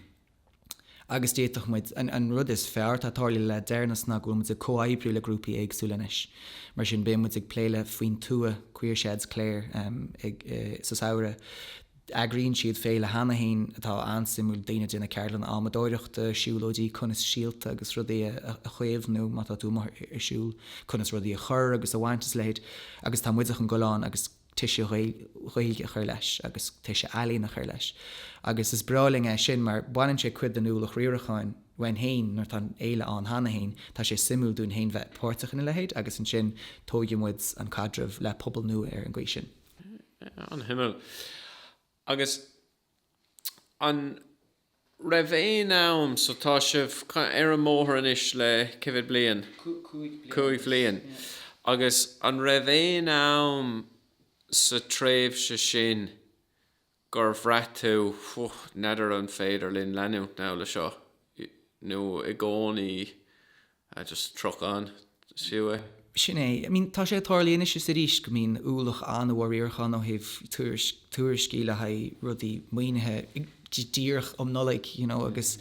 agus d'fhéadfadh muid, an rud is fearr atá tarlaithe le deireanas ná go bhfuil muid ag comhoibriú le grúpaí éagsúla anois, mar sin beidh muid ag plé le Faoin Tuath, Queer Sheds Clare sa samhradh. Eagraíonn siad féile cheana féin atá an-suimiúil daoine ag déanamh ceardlanna adhmadóireachta, siúlóidí, conas síolta agus rudaí a chaomhnú má tá tú amuigh ar siúl, conas rudaí a chur agus a bhaint is a leithéid, agus tá muide chun gabháil ann agus. toise Ghaeilge a chur leis agus toise ealaíon a chur leis agus is breá linn é sin mar baineann sé cuid den ualach riaracháin uainn féin nuair atá an fhéile ann cheana féin, tá sé suimiúil dúinn féin bheith páirteach ina leithéid agus ansin tóigfidh muid an caidreamh le pobal nua ar an gcaoi sin. An-shuimiúil. Agus. An raibh aon am so tá sibh ar an mbóthar anois le cé mhéad bliain? Cúig bhliain. Agus an raibh aon am sa tréimhse sin gur bhraith tú bhuel n'fheadar an féidir linn leanúint now le seo nó i gcónaí, I just truck on, see we. Sin é. I mean, tá sé ag tarlaí anois is arís go mbíonn ualach an-mhór riaracháin ó thaobh tuairisc, tuairiscí le haghaidh rudaí maoinithe díreach um Nollaig, you know, agus,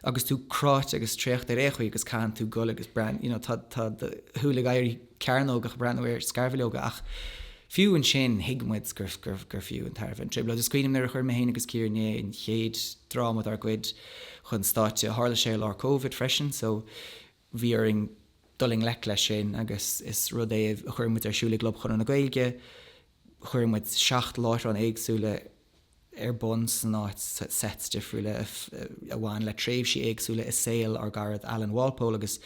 agus tú cráite agus traochta ar aon chaoi agus caitheann tú gabháil agus breathnú, tá, tá do shúile ag éirí. cearnógach ag breathnú ar scarbhileoga ach fiú ansin thuig muid gur fiú an tairbhe an trioblóid. Is cuimhním nuair a chuir mé féin agus Ciara Ní É an chéad dráma dár gcuid chun stáitse, tharla sé i lár Covid freisin so bhí orainn dul i ngleic leis sin agus is rud é a chuir muid ar siúl i gClub Chonradh na Gaeilge, Chuir muid seacht láithreán éagsúla ar bun san áit, sets difriúla a bhain le tréimhsí éagsúla i saol ár gcarad Alan Walpole agus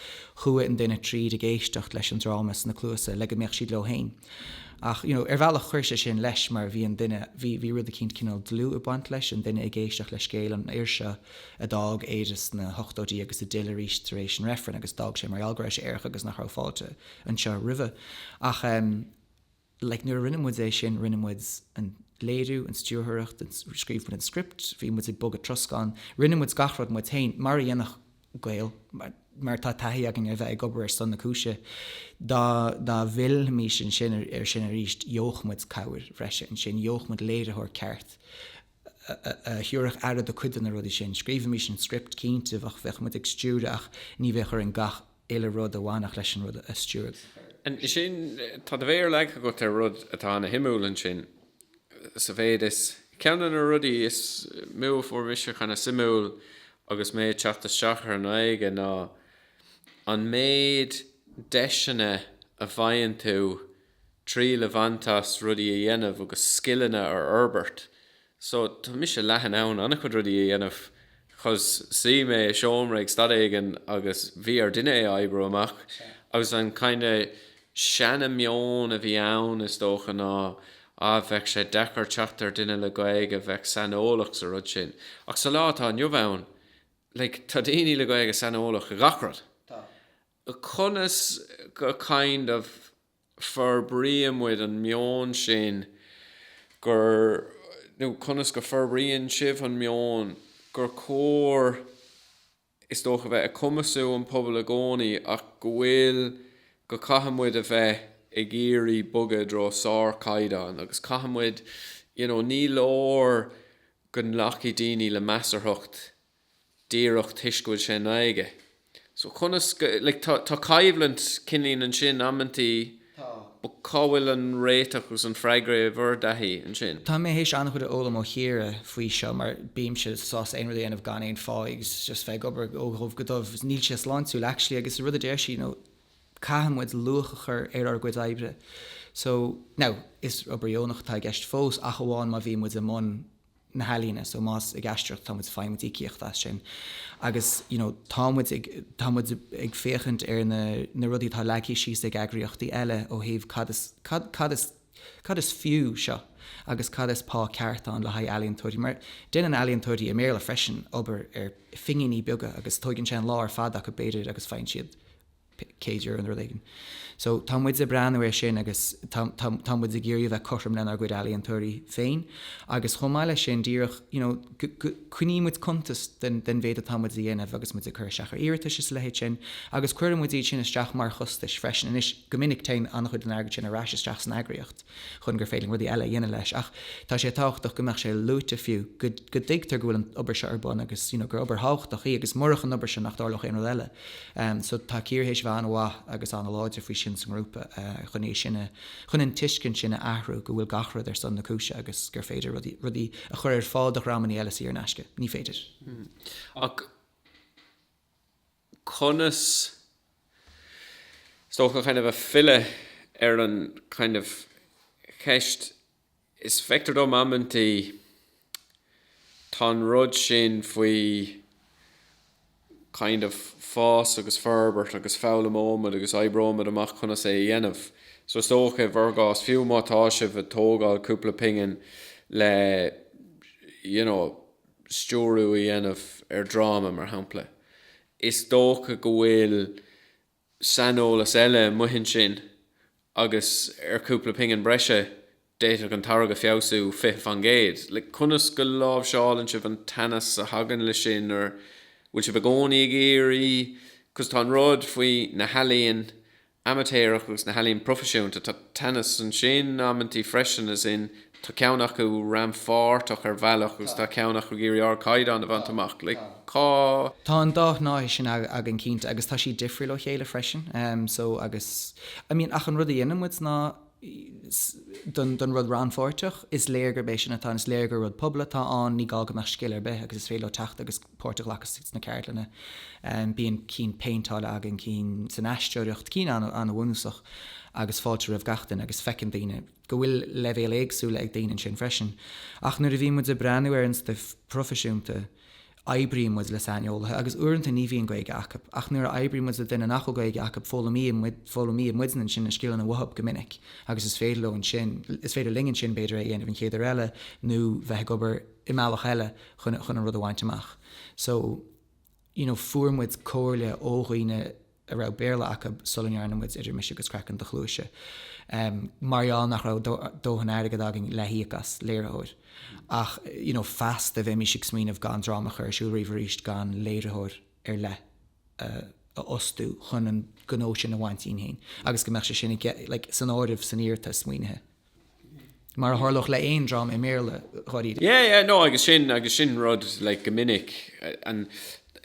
chuaigh an duine tríd ag éisteacht leis an dráma sna cluasa le go mbeadh siad leo féin. Ach, you know, ar bhealach chuir sé sin leis mar bhí an duine, bhí, bhí rud eicínt cineál dlúth ag baint leis, an duine ag éisteacht le scéal an fhir seo a d'fhág Éire sna hochtóidí agus a d'fhill arís tar éis an reifrinn agus d'fhág sé mar gheall go raibh sé aerach agus nach raibh fáilte anseo roimhe. Ach, eh, like nuair a rinne muid é sin, rinne muid an léiriú, an stiúrthóireacht, an, scríobh muid an script, bhí muid ag bogadh troscán, rinne muid gach rud muid féin, mar a dhéanadh Gael, mar tá taithí againn ar bheith ag obair ar son na cúise. Dá, dá bhfillfimis ansin, air sin arís, gheobhadh muid cabhair bhreise ansin, gheobhadh muid léiritheoir ceart a thabharfadh aire do cuid de na rudaí sin. Scríobhfaimis an script, cinnte, bheadh, bheadh muid ag stiúradh ach ní bheadh orainn gach, uile rud a bhainfeadh leis an rud a stiúradh. Ansin, tá do mhéar leagtha agat ar rud atá ana shuimiúil ansin, sa mhéid is, ceann de na rudaí is mó a fuair mise chomh suimiúil agus mé ag teacht isteach ar an nGaeilge ná an méid deiseanna a bhfaigheann tú triail a bhaint as rudaí a dhéanamh agus scileanna a fhorbairt so tá mise leath in ann an-chuid rudaí a dhéanamh 'cause shuigh mé i seomra ag staid éigin agus bhí ar duine é a oibriú amach agus an kind of seana meon a bhí ann is dócha ná ah bheadh sé deacair teacht ar duine le Gaeilge a bheadh saineolach sa rud sin ach sa lá atá inniu ann like tá daoine le Gaeilge saineolach i gach rud conas go kind of forbraíonn muid an meon sin gur, nó conas go forbraíonn sibh an meon gur cóir, is dócha, bheith ag cumasú an pobal i gcónaí ach go bhfuil, go caithfidh muid a bheith ag iarraidh bogadh i dtreo sár-chaighdeán agus caithfidh muid, you know, ní leor go nglacfaidh daoine le measarthacht díreach toisc go bhfuil sé i nGaeilge. So conas go, like tá, tá coimhlint cinnte ansin amanntaí Tá. but cá bhfuil an réiteach agus an freagra i bhur dtaithí ansin? Tá mé théis an-chuid a fhoghlaim ó Chiara faoi seo mar bímse sásta aon rud a dhéanamh gan aon phá agus just bheith ag obair ó dhubh go dubh agus níl sé sláintiúil actually agus an rud a deir sí you know caithfidh muid luach a chur ar ár gcuid oibre so now is obair dheonach atá i gceist fós ach amháin má bhíonn muid i mbun na healaíne, so más ag aisteoireacht atá muid faighimid íocaíocht as sin agus you know tá muid ag, tá muid ag féachaint ar na, na rudaí atá leagtha síos ag eagraíochtaí eile ó thaobh cad is, cad, cad is, cad is fiú seo agus cad is pá ceart ann le haghaidh ealaíontóirí mar déanann ealaíontóirí i mBéarla freisin obair ar phingíní beaga agus tóigeann sé an lá ar fad acu b'fhéidir agus faigheann siad €100 nó rud éigin. So tá muid ag breathnú ar sin agus tá tá tá muid ag iarraidh a bheith cothrom lenár gcuid ealaíontóirí féin agus chomh maith leis sin díreach you know go go coinní muid cuntas den den mhéad atá muid a dhéanamh agus muid ag cur isteach ar iarratais is a leithéid sin agus cuireann muid iad sin isteach mar chostais freisin anois go minic téann an-chuid den airgead sin ar ais isteach san eagraíocht chun gur féidir linn rudaí eile a dhéanamh leis. Ach tá sé tábhachtach go mbeadh sé luaite fiú, go, go dtuigtear go bhfuil an obair seo ar bun agus you know gur obair thábhachtach í agus murach an obair seo nach dtarlódh aon rud eile. Em so tá Ciara théis a bheith an-mhaith agus an-láidir faoi sin sa ngrúpa eh chun é sin a, chun an tuiscint sin a athrú go bhfuil gach rud ar son na cúise agus gur féidir rudaí, rudaí a chur ar fáil do dhreamannaí eile saor in aisce. Ní féidir. Ach. conas is dócha kind of ag filleadh ar an kind of cheist is feictear dom amantaí tá an rud sin faoi kind of fás agus forbairt agus foghlaimeoimid agus oibreoimid amach conas é a dhéanamh so is dócha i bhur gcás fiú má tá sibh ag tógáil cúpla pingin le you know stiúradh a dhéanamh ar dhráma, mar shampla. Is dócha go bhfuil saineolas eile amuigh ansin agus ar chúpla pingin breise d'fhéadfadh an táirge feabhsú fiche faoin gcéad. Le conas go láimhseálann sibh an teannas a thagann leis sin? An bhfuil sibh i gcónaí ag iarraidh, cos tá an rud faoi na healaíona amaitéarach agus na healaíona proifisiúnta. Tá teannas ansin, amantaí freisin, as in tá ceann acu rannpháirteach ar bhealach agus tá ceann acu ag iarraidh ardchaighdeán a bhaint amach. Tá. Tá an dá shnáithe sin againn cinnte agus tá siad difriúil ó chéile freisin. So agus, I mean ach an rud a dhéanann muid ná don don rud rannpháirteach, is léir gurb é sin atá ann, is léir gur rud pobail atá ann, ní gá go mbeadh scil ar bith agus is féidir leo teacht agus. páirt a ghlacadh sna ceardlanna. Bíonn cinn péinteála againn, cinn san aisteoireacht, cinn an-bhunúsach agus fáilte roimh gach duine agus feiceann daoine go bhfuil leibhéil éagsúla ag daoine ansin freisin. Ach nuair a bhíonn muid ag breathnú ar an stuif proifisiúnta, oibríonn muid le saineolaithe agus uaireanta ní bhíonn Gaeilge acu ach nuair a oibríonn muid le duine nach bhfuil Gaeilge acu, foghlaimíonn muidne ansin na scileanna uathub go minic agus is féidir leo ansin, is féidir linn ansin b'fhéidir é a dhéanamh an chéad uair eile nó bheith ag obair i mbealach eile chun an rud a bhaint amach. So, you know, fuair muid comhairle ó dhaoine a raibh Béarla acu sula ndearna muid Idir Mise agus Craiceann do Chluaise ehm mar gheall nach raibh dóthain airgid againn le híoc as léiritheoir ach, you know, feasta bheimís ag smaoineamh gan dráma a chur ar siúl riamh arís gan léiritheoir ar leith a fhostú chun an gnó sin a bhaint dínn fhéin agus go mbeadh sé sin i like san áireamh san iarratas maoinithe. mar a tharlódh le haon dream i mBéarla dháiríre. Yeah, yeah, no, agus sin, agus sin rud, like, go minic, and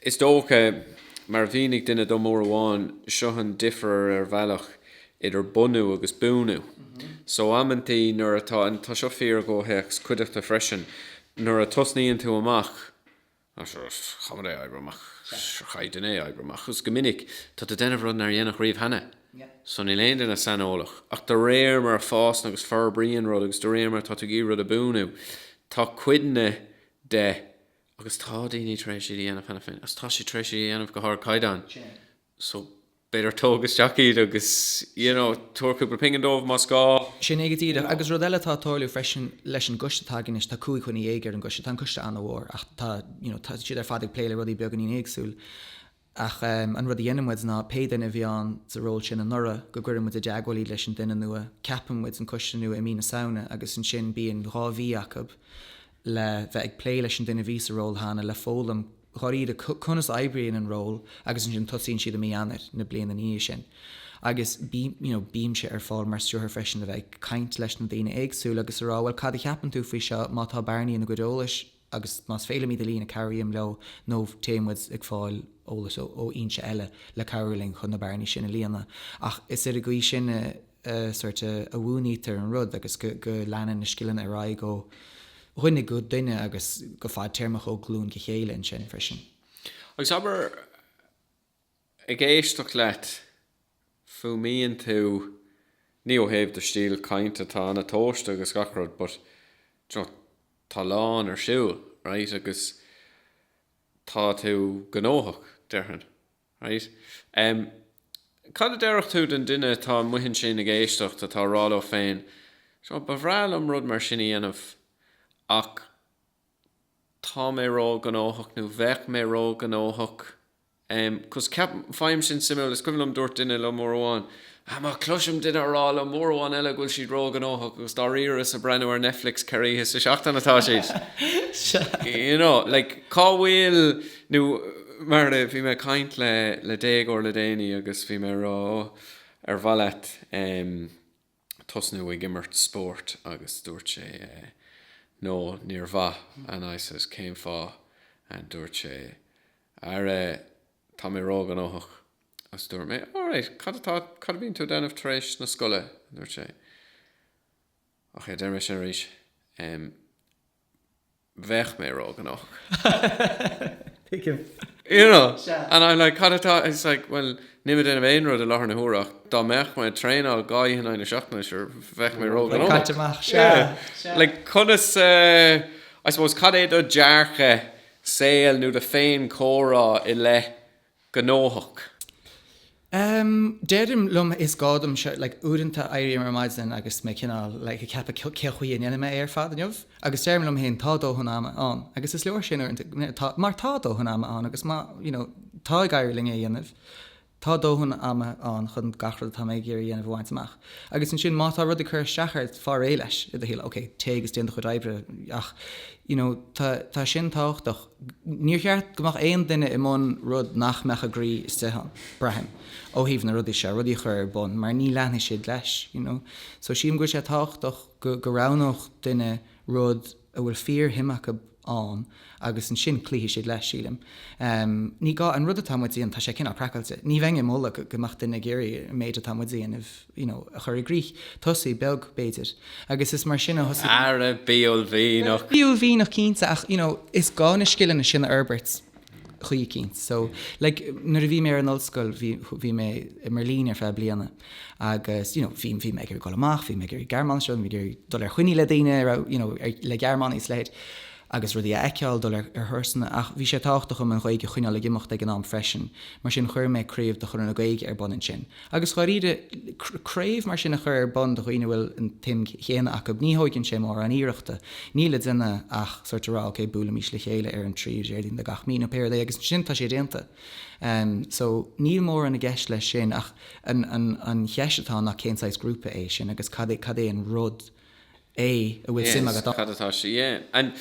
is dócha, mar a mhínigh duine dom uair amháin, seo an difear ar bhealach idir bunú agus buanú. So amantaí nuair atá, and tá seo fíor i gcomhthéacs cuideachta freisin, nuair a thosnaíonn tú amach, caithfidh mé é a oibriú amach, caithfidh duine é a oibriú amach agus go minic tá tú a déanamh rud nár déanadh riamh cheana. So níl aon duine saineolach. Ach de réir mar a fhásann agus forbraíonn rud agus de réir mar atá tú ag iarraidh rud a bhuanú, tá cuid de agus tá daoine tar éis é a dhéanamh cheana féin agus tá siad tar éis é a dhéanamh go hardchaighdeán. so b'fhéidir tóg isteach iad agus you know tabhair cúpla pingin dóibh más gá. Sin é go díreach. Agus rud eile atá ag tarlú freisin leis an gcoiste atá againn anois, tá cúig dhuine dhéag ar an gcoiste, tá an coiste an-mhór ach tá you know tá siad ar fad ag plé le rudaí beagáinín éagsúil ach ehm an rud a dhéanann muid ná pé duine a bhí ann sa ról sin anuraidh go gcuireann muid i dteagmháil iad leis an duine nua, ceapann muid an coiste nua i mí na Samhna agus ansin bíonn dhá mhí acu le bheith ag plé leis an duine a bhí sa ról cheana le foghlaim dháiríre conas oibríonn an ról agus ansin tosaíonn siad i mí Eanáir na bliana ina dhiaidh sin agus bím, you know, bímse ar fáil mar stiúrthóir freisin a bheith ag caint leis na daoine éagsúla agus a rá bhuel cad a cheapann tú faoi seo, má tá bearnaí ina gcuid eolais agus más féidir liom iad a líonadh cabhraím leo nó téann muid ag fáil eolas ó fhoinse eile le cabhrú linn chun na bearnaí sin a líonadh ach is ar an gcaoi sin a sort a mhúinítear an rud agus go leanann na scileanna ar aghaidh ó dhuine go duine agus go fadtéarmach ó ghlúin go chéile ansin freisin. Agus abair, ag éisteacht leat, fuaimíonn tú, ní ó thaobh do stíl chainte, tá an-tomhaiste agus gach rud but you know tá a lán ar siúl, right, agus tá tú gnóthach, déarfainn. Right. Em. cad a déarfadh tú don duine atá amuigh ansin ag éisteacht atá a rá leo féin, Sure, ba bhreá liom rud mar sin a dhéanamh ach tá mé ró ghnóthach nó bheadh mé ró ghnóthach, em, 'cause ceapaim, faighim sin suimiúil, is cuimhin liom dúirt duine liom uair amháin, Má chloisim duine a rá liom uair amháin eile go bhfuil siad ró-ghnóthach agus dáiríre is ag breathnú ar Netflix ceithre oíche sa seachtain atá siad, you know, like, cá bhfuil, nó mar a, bhí mé ag caint le, le déagóir le déanaí agus bhí mé ag rá, ó, ar mhaith leat ehm tosnú ag imirt spóirt agus dúirt sé eh, no, níor mhaith and I says, cén fáth and dúirt sé, ara, tá mé ró-ghnóthach. Agus dúirt mé, Alright, cad atá, cad a bhíonn tú ag déanamh tar éis na scoile? a dúirt sé. Ok, a deir mé sin arís, em, bheadh mé róghnóthach. You know, and I'm like, cad atá, it's like, well, níl mé ag déanamh aon rud i láthair na huaire ach dá mbeadh mé ag traenáil dhá oíche in aghaidh na seachtaine, sure, bheadh mé róghnóthach. Like, conas, eh, I suppose, cad é do dearcadh saoil nó do fhéinchomhrá i leith gnóthach. Em, deirim liom, is gá dom seo, like, uaireanta éirím ar maidin agus mé cineál, like, ag ceapadh cé, cén chaoi a ndéanfaidh mé é ar fad inniu? Agus deirim liom féin, tá dóthain ama ann. Agus is leor sin uaireanta, you know, tá, mar tá dóthain ama ann agus má, you know, tá ag éirí linn é a dhéanamh, tá dóthain ama ann chun gach rud atá mé ag iarraidh a dhéanamh a bhaint amach. Agus ansin má tá rud ag cur isteach ort, faigh réidh leis i do shaol, okay, téigh agus déan do chuid oibre ach, you know, tá, tá sin tábhachtach. Níor cheart go mbeadh aon duine i mbun rud nach mbeadh a gcroí istigh ann, braithim, ó thaobh na rudaí seo, rudaí a chur ar bun, mar ní leanfaidh siad leis, you know. So sílim go bhfuil sé tábhachtach go go roghnódh duine rud a bhfuil fíorshuim acu ann agus ansin cloífidh siad leis, sílim. Ní gá, an rud atá muid a dhéanamh, tá sé cineál craiceáilte, ní bheinn ag moladh go mbeadh duine ag iarraidh an méid atá muid a dhéanamh, you know, a chur i gcrích, tosaigh beag, b'fhéidir, agus is mar sin a thosaigh. Ara, bí uaillmhianach! Bí uaillmhianach cinnte ach, you know, is gá na scileanna sin a fhorbairt chuige eicínt. So, like, nuair a bhí mé ar an ollscoil, bhí, bhí mé i mBerlin ar feadh bliana agus, you know, bhí, bhí mé ag iarraidh dul amach, bhí mé ag iarraidh Gearmáinis a fhoghlaim, bhí mé ag iarraidh dul ar choinní le daoine a raibh, you know, ar, le Gearmánaigh is a leithéid agus rudaí a fheiceáil, dul ar, ar thurasanna ach bhí sé tábhachtach dom an Ghaeilge a choinneáil ag imeacht ag an am freisin, mar sin chuir mé craobh de Chonradh na Gaeilge ar bun ansin. Agus i ndáiríre, craobh mar sin a chur ar bun do dhaoine a bhfuil an tsuim chéanna acu, ní thóigeann sé mórán iarrachta. Níl le déanamh ach sórt a rá, OK, buailfimís le chéile ar an tríú Déardaoin de gach mí, nó pé rud é, agus ansin tá sé déanta. So, níl mórán i gceist leis sin ach an cheist atá ná cén saghas grúpa é sin agus cad é an rud é a bhfuil suim agat ann. Cad atá siad a dhéanamh. An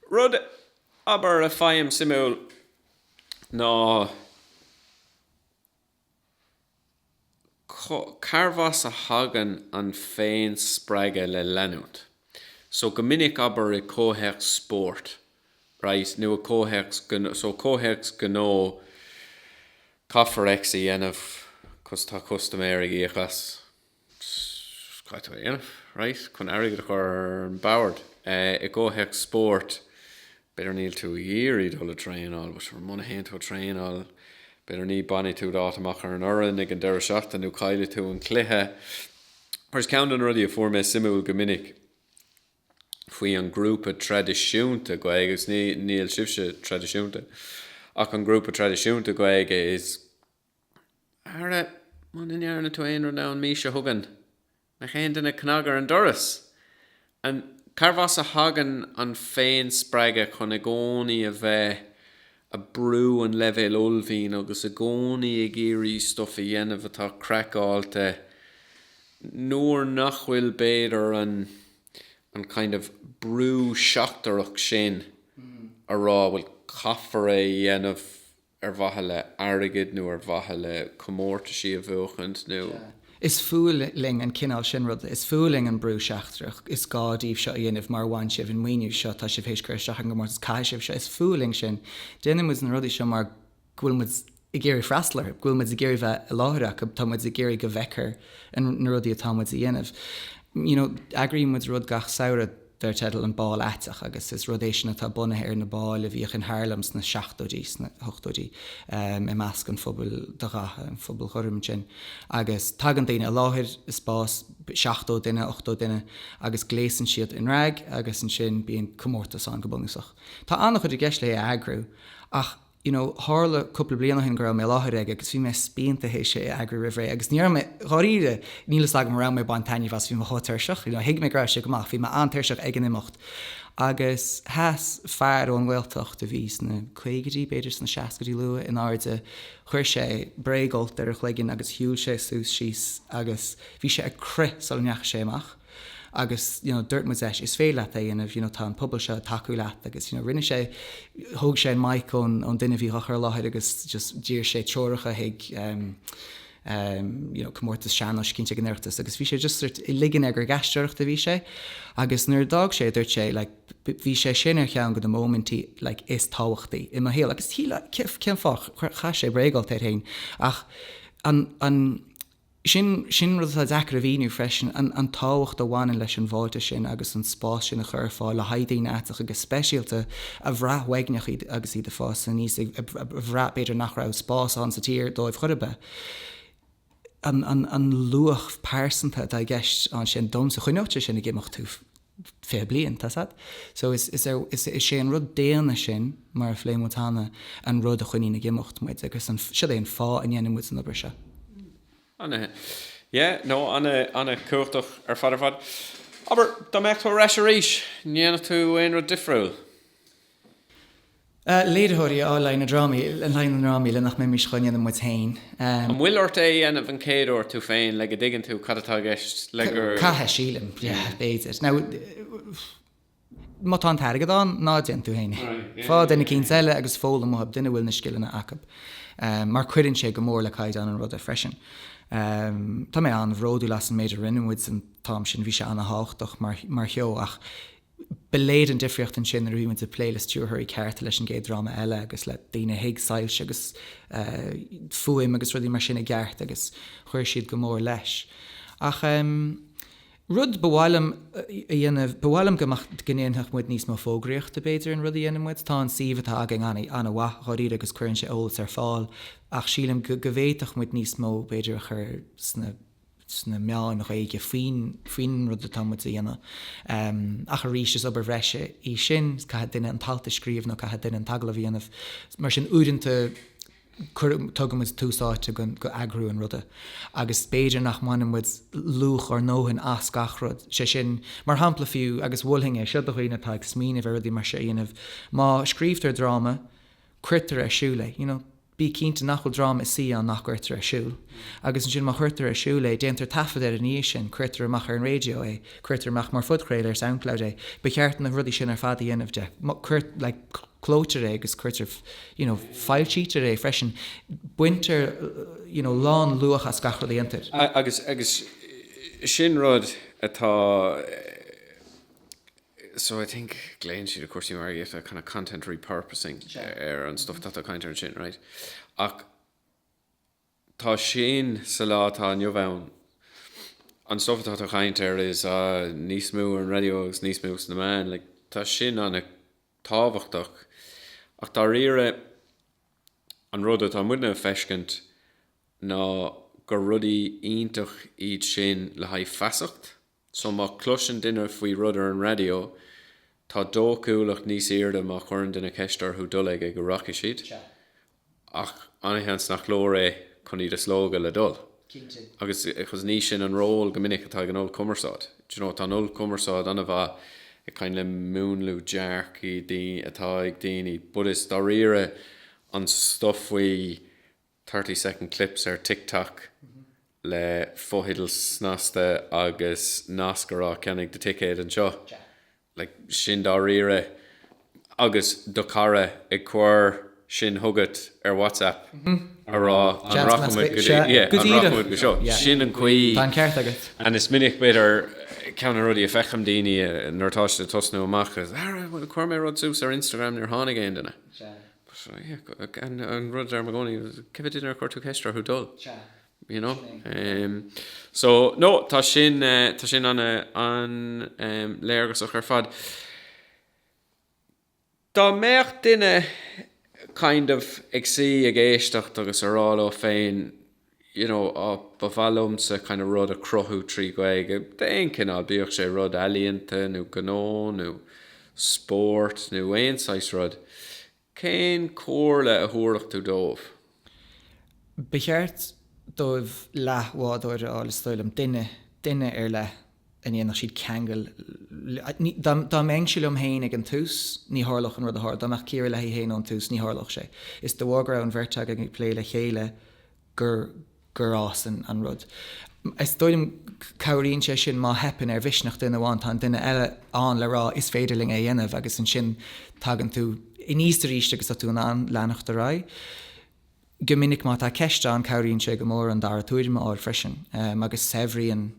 rud, abair, a faighim suimiúil ná. carbh as a thagann an féinspreagadh le leanúint so go minic, abair, i gcomhthéacs spóirt, right, nó i gcomhthéacs gnó, so comhthéacs gnó caithfear X a dhéanamh cos tá custaiméir ag íoc as. X, caithfidh tú é a dhéanamh, raight, chun airgead a chur ar an bord? Eh, i gcomhthéacs spóirt, b'fhéidir níl tú ag iarraidh dul ag traenáil, but sure, muna théann tú ag traenáil, b'fhéidir ní, bainfidh tú d'áit amach ar an fhoireann ag an deireadh seachtaine nó caillfidh tú an cluiche. Whereas ceann de na rudaí a fuair mé suimiúil go minic faoi an grúpa traidisiúnta Gaeilge, agus ní, níl sibhse traidisiúnta, ach an grúpa traidisiúnta Gaeilge is, Ara, muna ndearna tú aon rud ann mise a thugann nach aon duine cnag ar an doras! An cárb as a thagann an féinspreagadh chun i gcónaí a bheith a brú an leibhéil ullmhúcháin agus i gcónaí ag iarraidh stuif a dhéanamh atá craiceáilte nuair nach bhfuil b'fhéidir an an kind of brú seachtarach sin a rá bhuel caithfear é a dhéanamh ar mhaithe le airgead nó ar mhaithe le comórtaisí a bhuachaint nó. Sea. Is fuath linn an cineál sin ruda. Is fuath linn an brú seachtarach. Is gá díbh seo a dhéanamh mar bhain sibh an maoiniú seo, tá sibh théis cur isteach ar an gcomórtas, caithfidh sibh seo. Is fuath linn sin. Déanann muid na rudaí seo mar go bhfuil muid ag iarraidh freastal orthu, go bhfuil muid ag iarraidh bheith i láthair acu, tá muid ag iarraidh go bhfeicfear na rudaí atá muid a dhéanamh. You know, eagraíonn muid rud gach samhradh. Dar teideal an Bál Aiteach, agus is rud é sin atá bunaithe ar na báil a bhíodh in Harlem sna seachtóidí, sna hochtóidí, i measc an phobail de dhath, an phobail ghorm ansin, agus tagann daoine i láthair i spás seachtó duine, ochtó duine, agus gléasann siad i ndrag agus ansin bíonn comórtas ann go bunúsach. Tá an-chuid i gceist léi a eagrú ach you know tharla cúpla bliain ó shin go raibh mé i láthair ag agus bhí mé spíonta théis é a eagrú roimh ré agus ní raibh mé, dháiríre, níl fhios agam an raibh mé ag baint taitneamh as, bhí mé chomh tuirseach, you know thuig mé go raibh sé go maith ach bhí mé an-tuirseach ag an imeacht agus sheas fear ón nGaeltacht a bhí sna caogaidí, b'fhéidir sna seascaidí luath, in airde, chuir sé bréagfholt ar a chloigeann agus shiúil sé suas síos agus bhí sé ag crith sula ndeachaigh sé amach. Agus you know dúirt muid leis is féidir leat é a dhéanamh, you know tá an pobal seo ag tacú leat agus you know rinne sé, thóg sé an mic ón ón duine a bhí á chur i láthair agus just d'iarr sé treoracha chuig ehm ehm you know comórtas sean-nóis cinnte ag an Oireachtas agus bhí sé just sort ag ligean air gur ag aisteoireacht a bhí sé agus nuair a d'fhág sé dúirt sé like bhí sé sin ar cheann de na móimintí like is tábhachtaí i mo shaol agus cén fáth? chaith sé bréagfholt air féin ach an an Sin, sin rud atá deacair a mhíniú freisin, an, an tábhacht a bhaineann leis an bhfáilte sin agus an spás sin a chur ar fáil le haghaidh daoine aiteacha go speisialta a bhraith uaigneach agus iad ag fás aníos, a bhraith b'fhéidir nach raibh spás ann sa tír dóibh chor ar bith. An, an, an luach pearsanta atá i gceist ansin, domhsa, choinneodh sé sin ag imeacht thú. 20 bliain, tá's agat. So is is é an rud daonna sin, mar a phléigh muid cheana, an rud a choinníonn ag imeacht muid agus an, siod é an fáth a ndéanann muid an obair seo. Ana yeah no ana ana cumhachtach ar fad ar fad. Abair dá mbeadh tú ar ais arís, ndéanfadh tú aon rud difriúil? léiritheoirí le haghaidh na drámaí, le haghaidh na ndrámaí le nach mbeimis dhá ndéanamh muid féin. An bhfuil ort é a dhéanamh an chéad uair tú féin le go dtuigeann tú cad atá i gceist le gur. Caithfidh, sílim. Yeah, b'fhéidir. Now, má tá an t-airgead ann, ná déan tú féin é. Faigh duine eicínt eile agus foghlaim uaidh, duine a bhfuil na scileanna acu. Mar cuireann sé go mór le caighdeán an ruda freisin. Tá mé an-bhródúil as an méid a rinne muid an t-am sin, bhí sé an-tábhachtach mar sheó ach Ba léir an difríocht ansin nuair a bhí muid ag plé le stiúrthóirí cearta, leis an gcéad dráma eile agus le daoine a thuig soilse agus fuaim agus rudaí mar sin i gceart agus chuir siad go mór leis. Ach rud ba mhaith liom a dhéanamh, ba mhaith liom go mbeadh, go ndéanfadh muid níos mó fógraíochta b'fhéidir ar an rud a dhéanann muid. Tá an suíomh atá againn an-mhaith dháiríre agus cuireann sé eolas ar fáil ach sílim go bhféadfadh muid níos mó b'fhéidir a chur sna sna meáin Ghaeilge faoin rud atá muid a dhéanamh. Ach arís, is obair bhreise í sin, caithfidh duine an t-alt a scríobh nó caithfidh duine an t-agallamh a dhéanamh. Mar sin, uaireanta tugann muid tús áite go eagrú an ruda agus b'fhéidir nach mbaineann muid luach ár ndóthain as gach rud. Sé sin, mar shampla fiú, agus mholfainn é seo do dhaoine atá ag smaoineamh ar rudaí mar seo a dhéanamh, má scríobhtar dráma, cuirtear ar siúl é, you know, bí cinnte nach bhfuil dráma ina shuí ann nach gcuirtear ar siúl. Agus ansin, má chuirtear ar siúl é, déantar taifead air ina dhiaidh sin, cuirtear amach ar an raidió é, cuirtear amach mar phodchraoladh ar Soundcloud é, ba cheart na rudaí sin ar fad a dhéanamh de. Like, clóitear é agus cuirtear, you know, foilsítear é freisin. Baintear, you know, lánluach as gach rud a dhéantar. Agus, agus sin rud atá, So I think glaonn siad i gcúrsaí margaíochta kind of content repurposing ar an stuff atá tú ag caint air ansin right ach tá sin sa lá atá inniu ann an stuff atá tú ag caint air is ea níos mó ar an radio agus níos mó sna meáin like tá sin ana tábhachtach ach dáiríre an rud atá muidne ag feiscint ná gur rudaí iontach iad sin le haghaidh feasacht So má chloiseann duine faoi rud ar an raidió, tá dóchúlacht níos aoirde má chuireann duine ceist orthu dul aige go rachaidh siad, ach ana-sheans nach leor é chun iad a slógadh le dul. Agus agus ní sin an ról go minic atá ag an ollchumarsáid. Do you know, tá an ollchumarsáid ana-mhaith ag kind of múnlú dearcaí atá ag daoine, but is dáiríre an stuff faoi, 30 Second Clips ar TikTok le fotheidil snasta agus nasc a rá 'Ceannaigh do thicéad anseo'. Like, sin dáiríre. Agus do chara ag cur sin chugat ar WhatsApp a rá 'An rachaimid go dtí, yeah, an rachaimid go seo'. Sin an chaoi. Tá an ceart agat. And is minic, b'fhéidir, ceann de na rudaí a fheiceann daoine nuair atá siad ag tosnú amach is 'Ara, bhuel, chuir mé rud suas ar Instagram, níor tháinig aon duine'. An rud a deirim i gcónaí, cé mhéad duine ar chuir tú ceist orthu dul? You know? So, no, tá sin, tá sin an-léargasach ar fad. Dá mbeadh duine kind of ag suí ag éisteacht agus a rá leo féin, you know oh ba mhaith liomsa kind of rud a chruthú trí Ghaeilge d'aon chineál, bíodh sé rud ealaíonta nó gnó nó spóirt nó aon saghas rud, cén chomhairle a thabharfadh tú dóibh? Ba cheart dóibh leathbhádóir a fháil is dóigh liom, duine, duine ar leith. a ndéanfadh siad ceangal le, dá mbeinnse liom féin ag an tús, ní tharlódh an rud a tharla, dá mbeadh Ciara léi féin ag an tús, ní tharlódh sé. Is de bharr go raibh an bheirt againn ag plé le chéile gur gur fhás an rud. Is dóigh liom cabhraíonn sé sin má theipeann ar mhisneach duine amháin tá an duine eile ann le rá 'is féidir linn é a dhéanamh' agus ansin tagann tú aníos arís agus tá tú in ann leanacht ar aghaidh. Go minic má tá ceist ann cabhraíonn sé go mór an dara tuairim a fháil freisin agus saibhríonn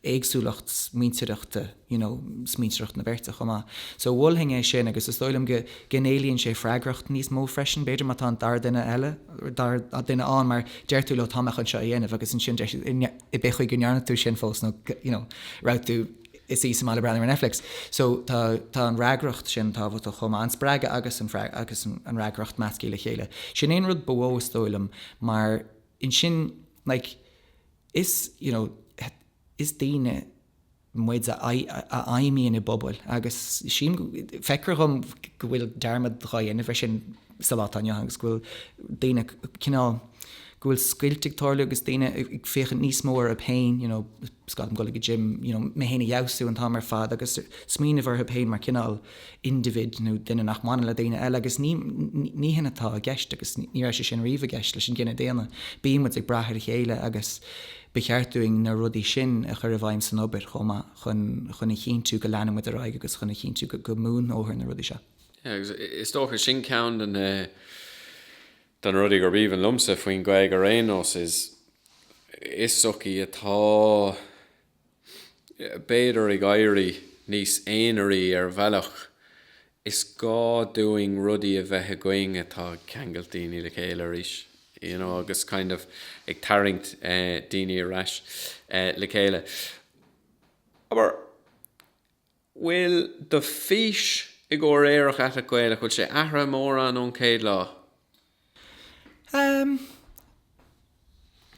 éagsúlacht smaointeoireachta you know smaointeoireacht na beirte chomh maith. So mholfainn é sin agus is dóigh liom go go n-éilíonn sé freagracht níos mó freisin b'fhéidir má tá an dara duine eile or dara duine ann mar deir tú leo tá mé chun seo a dhéanamh agus ansin deir siad tuige nach ndearna tú sin fós nó you know raibh tú i do shuí sa mbaile ag breathnú ar Netflix. So tá tá an fhreagracht sin tábhachtach chomh maith an spreagadh agus an agus an fhreagracht measctha le chéile. Sin an rud ba mhó is dóigh liom maidir leis sin like, Is you know is daoine muid a a fheidhmíonn i bpobail agus sílim feictear dhom go bhfuil dearmad dhá dhéanamh ar sin sa lá atá inniu ann agus go bhfuil daoine cineál go bhfuil scoilt ag tarlú agus daoine ag féachaint níos mó orthu féin you know caithfidh mé dul go gym you know mé féin a fheabhsú an t-am ar fad agus smaoineamh orthu féin mar cineál indibhid nó duine nach mbaineann le daoine eile agus ní ní shin atá i gceist agus ní raibh sé sin riamh i gceist leis an gcine daonna. Bíonn muid ag brath ar a chéile agus ba cheart dúinn na rudaí sin a chur i bhfeidhm san obair chomh maith chun chun a chinntiú go leanann muid ar aghaidh agus chun a chinntiú go go mbunófar na rudaí seo. Yeah, agus is dócha sin ceann de na de na rudaí gurb aoibhinn liomsa faoin Ghaeilge ar aon nós is is sochaí atá b'fhéidir ag éirí níos aonaraí ar bhealach. Is gá dúinn rudaí a bheith againn atá ag ceangailt daoine le chéile arís, you know, agus kind of ag tarraingt daoine ar ais le chéile. Abair, bhfuil do fhís i gcomhair Aerach Aiteach Gaelach? Bhfuil sé athruithe mórán ón chéad lá? Amm.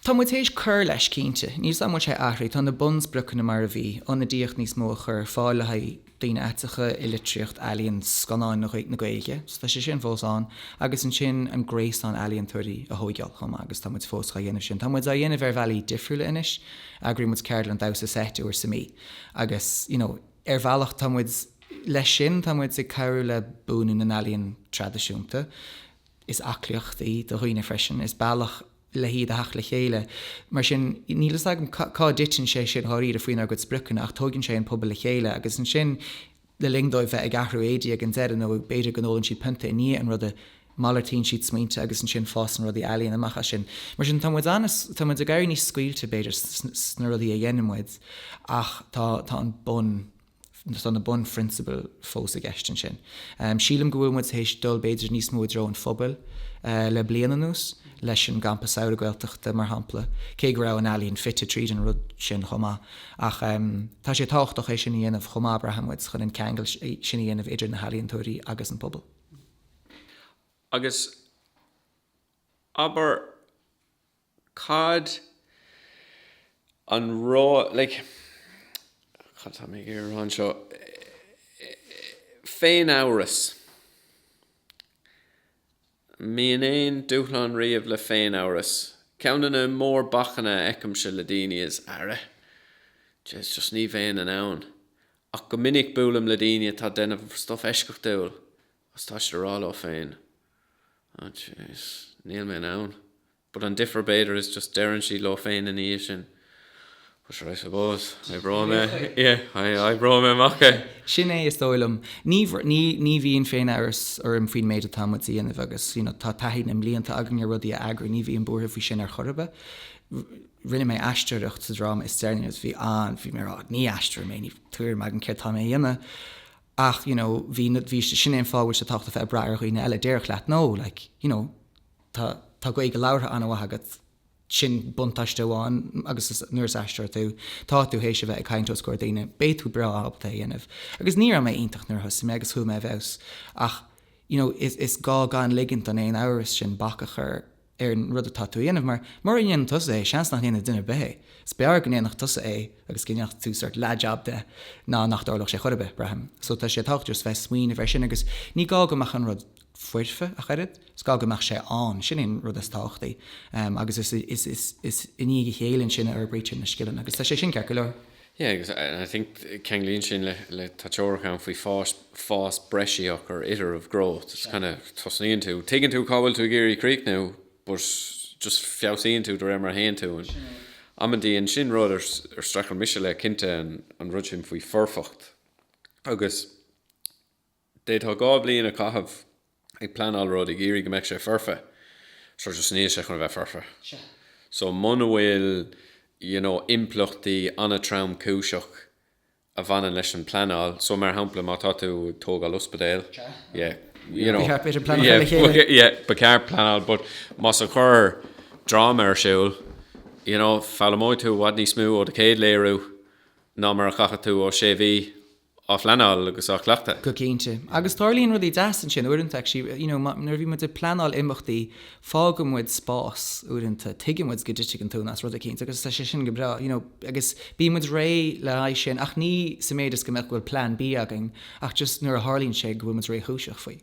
tá muid tar éis cur leis, cinnte. Níl a fhios agam an bhfuil sé athraithe, tá na bunspriocanna mar a bhí, ionadaíocht níos mó a chur ar fáil le haghaidh daoine aiteacha i litríocht, ealaíon, scannáin na Gaeilge, so tá sé sin fós ann, agus ansin an gréasán ealaíontóirí a thóigeáil chomh maith agus tá muid fós dhá dhéanamh sin. Tá muid á dhéanamh ar bhealaí difriúla anois, eagraíonn muid ceardlann damhsa seit uair sa mí. Agus, you know, ar bhealach tá muid, leis sin tá muid ag cabhrú le buanú na n-ealaíon traidisiúnta. Is aclaíocht í do dhaoine freisin, is bealach le hiad a theacht le chéile. Mar sin, níl a fhios agam cá dtiteann sé sin dháiríre faoinár gcuid spriocanna ach tóigeann sé an pobal le chéile agus ansin, le linn dóibh bheith ag athrú éadaí ag an deireadh nó b'fhéidir go n-ólann siad pionta i ndiaidh an ruda, malartaíonn siad smaointe agus ansin fásann rudaí ealaíne amach as sin. Mar sin, tá muid an, tá muid ag éirí níos scaoilte, b'fhéidir, sna rudaí a dhéanann muid ach tá an bun, tá na bunphrionsabail fós i gceist ansin. Sílim go bhfuil muid théis dul b'fhéidir níos mó i dtreo an phobail le bliain anuas. leis an gCampa Saoire Gaeltachta, mar shampla, cé go raibh an ealaín fite tríd an rud sin chomh maith. Ach tá sé tábhachtach é sin a dhéanamh chomh maith, braitheann muid, chun an ceangal sin a dhéanamh idir na healaíontóirí agus an pobal. Agus abair, cad é an rud, like, cad tá mé ag iarraidh a rá anseo, féin-amhras. mbíonn aon dúshlán riamh le féin amhras. Ceann de na mórbhacanna a fheicimse le daoine is ara! Jeez just ní bheinn in ann! Ach go minic buailim le daoine atá ag déanamh stuff eisceachtúil agus tá siad ag rá leo féin, oh jeez níl mé in ann. But an difear b'fhéidir is just deireann siad leo féin ina dhiaidh sin Well sure I suppose, oibreoidh mé, yeah, oibreoidh mé amach é. Sin é is dóigh liom. Ní bhíonn féin-amhras orm faoin méid atá muid a dhéanamh agus you know tá taithí na mblianta againn ar rudaí a eagrú, ní bhím buartha faoi sin ar chor ar bith. Rinne mé aisteoireacht sa dráma is deireanaí agus bhí an, bhí mé ag rá ní aisteoir mé, níl tuairim agam céard atá mé a dhéanamh ach you know bhí, bhí, sin é an fáth a bhfuil sé tábhachtach a bheith ag brath ar dhaoine eile, déarfadh leat no like, you know, tá tá Gaeilge labhartha an-mhaith agat, sin buntáiste amháin agus is, nuair is aisteoir tú, tá tú théis a bheith ag caint os comhair daoine, beidh tú breá ábalta é a dhéanamh. Agus ní raibh mé iontach nuair a thosaigh mé agus chuaigh mé i bhfeabhas ach you know is is gá gan ligint don aon amhras sin bac a chur ar an rud atá tú a dhéanamh mar, mura ndéanann tusa é, seans nach ndéanfaidh duine ar bith é. Is b'fhearr go ndéanfadh tusa é agus go ndéanfá sort leathjab de ná nach dtarlódh sé ar chor ar bith, braithim. So tá sé tábhachtach just bheith ag smaoineamh air sin agus ní gá go mbeadh an rud foirfe ach oiread. Is gá go mbeadh sé ann, sin é an rud is tábhachtaí, agus is i ndiaidh a chéile ansin a fhorbraítear na scileanna agus tá sé sin ceart go leor. Yeah agus I think ceanglaíonn sin le, tá teoiric ann faoi fás, fás breisíoch, or iterative growth, it's kind of tosnaíonn tú, tuigeann tú cá bhfuil tú ag iarraidh críochnú, but just feabhsaíonn tú de réir mar a théann tú. Amantaí and sin rud ar streachail mise le cinnte an rud sin faoi foirfeacht agus D'fhéadfá dhá bhliain a chaitheamh ag pleanáil rud, ag iarraidh go mbeadh sé foirfe, sure just níl sé chun a bheith foirfe. So muna bhfuil you know impleachtaí an-tromchúiseach a bhaineann leis an pleanáil, so mar shampla má tá tú ag tógáil ospidéil, yeah you know, yeah ba cheart pleanáil but más ag cur dráma ar siúl, you know foghlaimeoidh tú i bhfad níos mó ó do chéad léiriú ná mar a chaithfeadh tú ó sé mhí. á phleanáil agus á chleachtadh. go cinnte. Agus tarlaíonn rudaí deas ansin uaireanta actually, you know, nuair a bhí muid ag pleanáil imeachtaí, fágann muid spás uaireanta, tuigeann muid go dtitfidh an tóin as rud eicínt agus tá sé sin go breá, you know, agus bíonn muid réidh le haghaidh sin ach ní sa méid is go mbeadh, go bhfuil plean B againn ach just nuair a tharlaíonn sé go bhfuil muid réchúiseach faoi.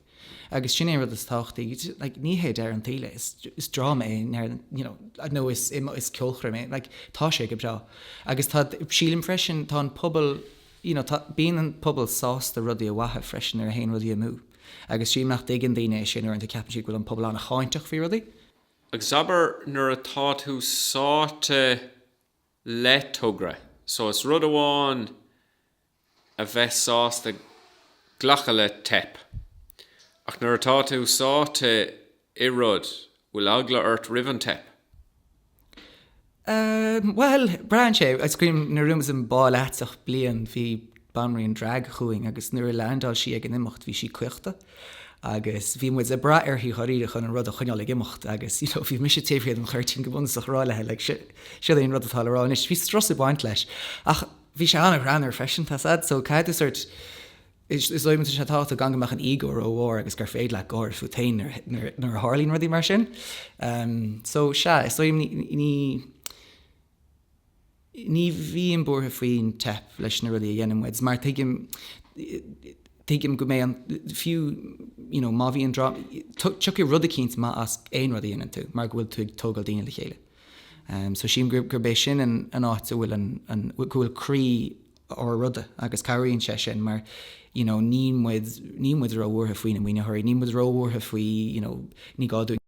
Agus sin é an rud is tábhachtaí, like, ní hé deireadh an tsaoil é, is, is dráma é, you know, nó is, is ceolchoirm é, like, tá sé go breá. Agus tá, sílim freisin, tá an pobal, you know tá, bíonn an pobal sásta rudaí a mhaitheamh freisin nuair a théann rudaí amú agus sílim nach dtuigeann daoine é sin uaireanta ceapann siad go bhfuil an pobal an-cháinteach faoi rudaí. Agus abair nuair atá tú sáite le togra so is rud amháin a bheith sásta glacadh le teip ach nuair atá tú sáite i rud Bhfuil eagla ort roimh an teip? Ehm, bhuel, braitheann sé. Is cuimhin liom nuair a bhí muid sa mBá Leatach bliain, bhí banríon drag chugainn agus nuair a leaindeáil sí ag an imeacht, bhí sí caochta agus bhí muid ag brath uirthi dháiríre chun an rud a choinneáil ag imeacht agus, you know, bhí mise taobh thiar den chuirtín go bunúsach ag rá léi, like, si, siod é an rud atá le rá anois. Bhí strus ag baint leis ach bhí sé an-ghreannmhar freisin, tá's agat so caithfidh tú sórt, Is dóigh liom, sé, tá tábhacht gan go mbeadh an íogaireacht ró mhór agus gur féidir leat gáire fút féin nuair a tharlaíonn rudaí mar sin. So, sea, is dóigh liom, ní bhím buartha faoin teip leis na rudaí a dhéanann muid mar tuigim tuigim go mbeidh an, fiú, you know, má bhíonn drámh, tiocfaidh rud eicínt maith as aon rud a dhéanann tú mar go bhfuil tú ag tógáil daoine le chéile. So, sílim gurb é sin an áit a bhfuil an, go bhfuil croí an ruda agus cabhraíonn sé sin mar you know níl muid, níl muid róbhuartha faoi na maoinitheoirí, níl muid róbhuartha faoi you know ní gá dúinn.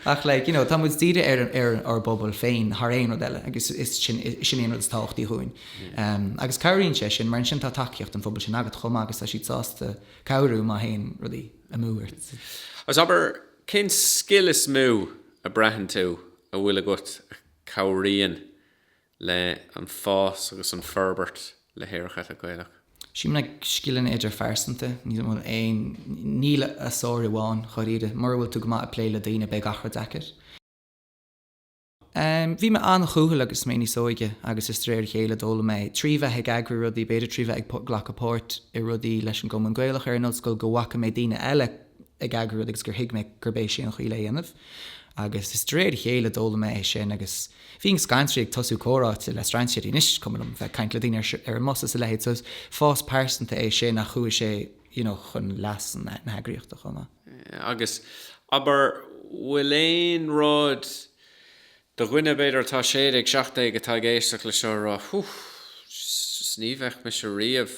Ach like you know tá muid dírithe ar an, ar ár bpobal féin thar aon rud eile agus is sin, sin é an rud is tábhachtaí dhúinn. em agus cabhraíonn sé sin mar ansin tá tacaíocht an phobail sin agat chomh maith agus tá siad sásta cabhrú má théann rudaí amú ort. As abair, cén scil is mó a bhraitheann tú a bhfuil agat a. cabhraíonn le an fás agus an forbairt le Aerach Aiteach Gaelach. Sílim na scileanna idirphearsanta, níl bhfuil aon níl a sárú ann, dháiríre. Mura bhfuil tú go maith ag plé le daoine, beidh gach rud deacair. Em, bhí mé an-chúthail agus mé níos óige agus is de réir a chéile a d'fhoghlaim mé, trí bheith ag eagrú rudaí, b'fhéidir trí bheith ag glacadh páirt i rudaí leis an gCumann Gaelach ar an ollscoil go bhfaca mé daoine eile, ag eagrú rud agus gur thuig mé gurb é sin an chaoi le dhéanamh. Agus is de réir a chéile d'fhoghlaim mé é sin agus bhínn scanraithe ag tosú comhráite le strainséirí, anois is cuma liom bheith ag caint le daoine ar an mbus is a leithéid. So is fás pearsanta é sin ach chuaigh sé you know chun leas na heagraíochta chomh maith. Agus abair, bhfuil aon rud Do dhuine, b'fhéidir, atá 16 17 atá ag éisteacht leis seo a rá, Ó, just ní bheadh mise riamh,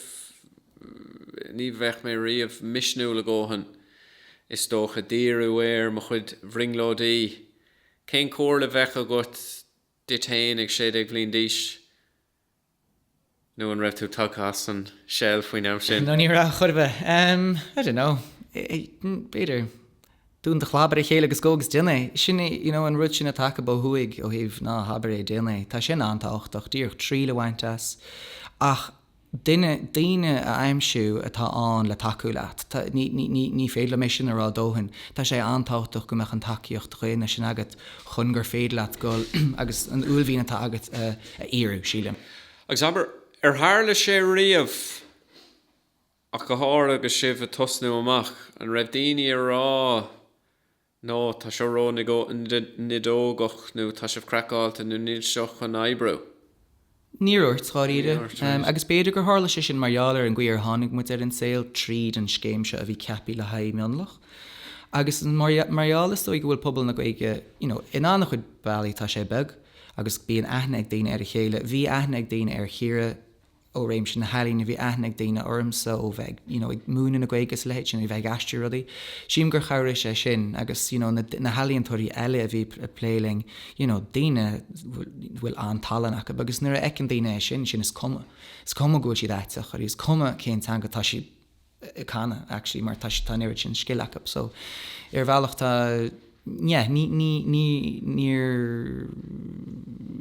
ní bheadh mé riamh misniúil go dóthain, is dócha, díriú ar mo chuid bhrionglóidí. Cén comhairle a bheadh agat duit féin ag 16 bhliain d'aois? nó an raibh tú tagtha as an shell faoin am sin? Nó ní raibh, chor ar bith. I don't know. B'fhéidir. Dún do chlabar, a chéile, agus gabh agus déan é. Sin é, you know, an rud sin atá acu ó thuaidh, ó thaobh, ná habair é, déan é. Tá sin an-tábhachtach, díreach triail a bhaint as. Ach duine, daoine a aimsiú atá ann le tacú leat. Tá, ní, ní, ní, ní féidir liom é sin a rá a dóthain. Tá sé an-tábhachtach go mbeadh an tacaíocht dhaonna sin agat chun gur féidir leat dul agus an uaillmhian atá agat a, a fhíorú, sílim. Agus abair, ar tharla sé riamh, ach go háirithe agus sibh ag tosnú amach, an raibh daoine ag rá No, tá seo ró nideogach nó tá sibh craiceáilte nó níl seo chun oibriú? Níor dhúirt, dháiríre. Agus b'fhéidir gur tharla sé sin mar gheall ar an gcaoi ar tháinig muid ar an saol tríd an scéim seo a bhí ceaptha le haghaidh mionlach. Agus mar gheall is dóigh go bhfuil pobal na Gaeilge, you know, in an-chuid bealaí tá sé beag, agus bíonn aithne ag daoine ar a chéile. Bhí aithne ag daoine ar Chiara ó réimse na healaíne, bhí aithne ag daoine ormsa ó bheith you know ag múineadh na Gaeilge is a leithéid sin, ó bheith ag aistriú rudaí. Sílim gur chabhraigh sé sin agus you know na healaíontóirí eile a bhí ag plé linn, you know daoine a bhfuil an-tallann acu agus nuair a fheiceann daoine é sin, sin is cuma. Is cuma go bhfuil siad aiteach, is cuma cén teanga atá siad canadh actually mar tá an oiread sin scil acu so ar bhealach tá yeah ní ní ní níor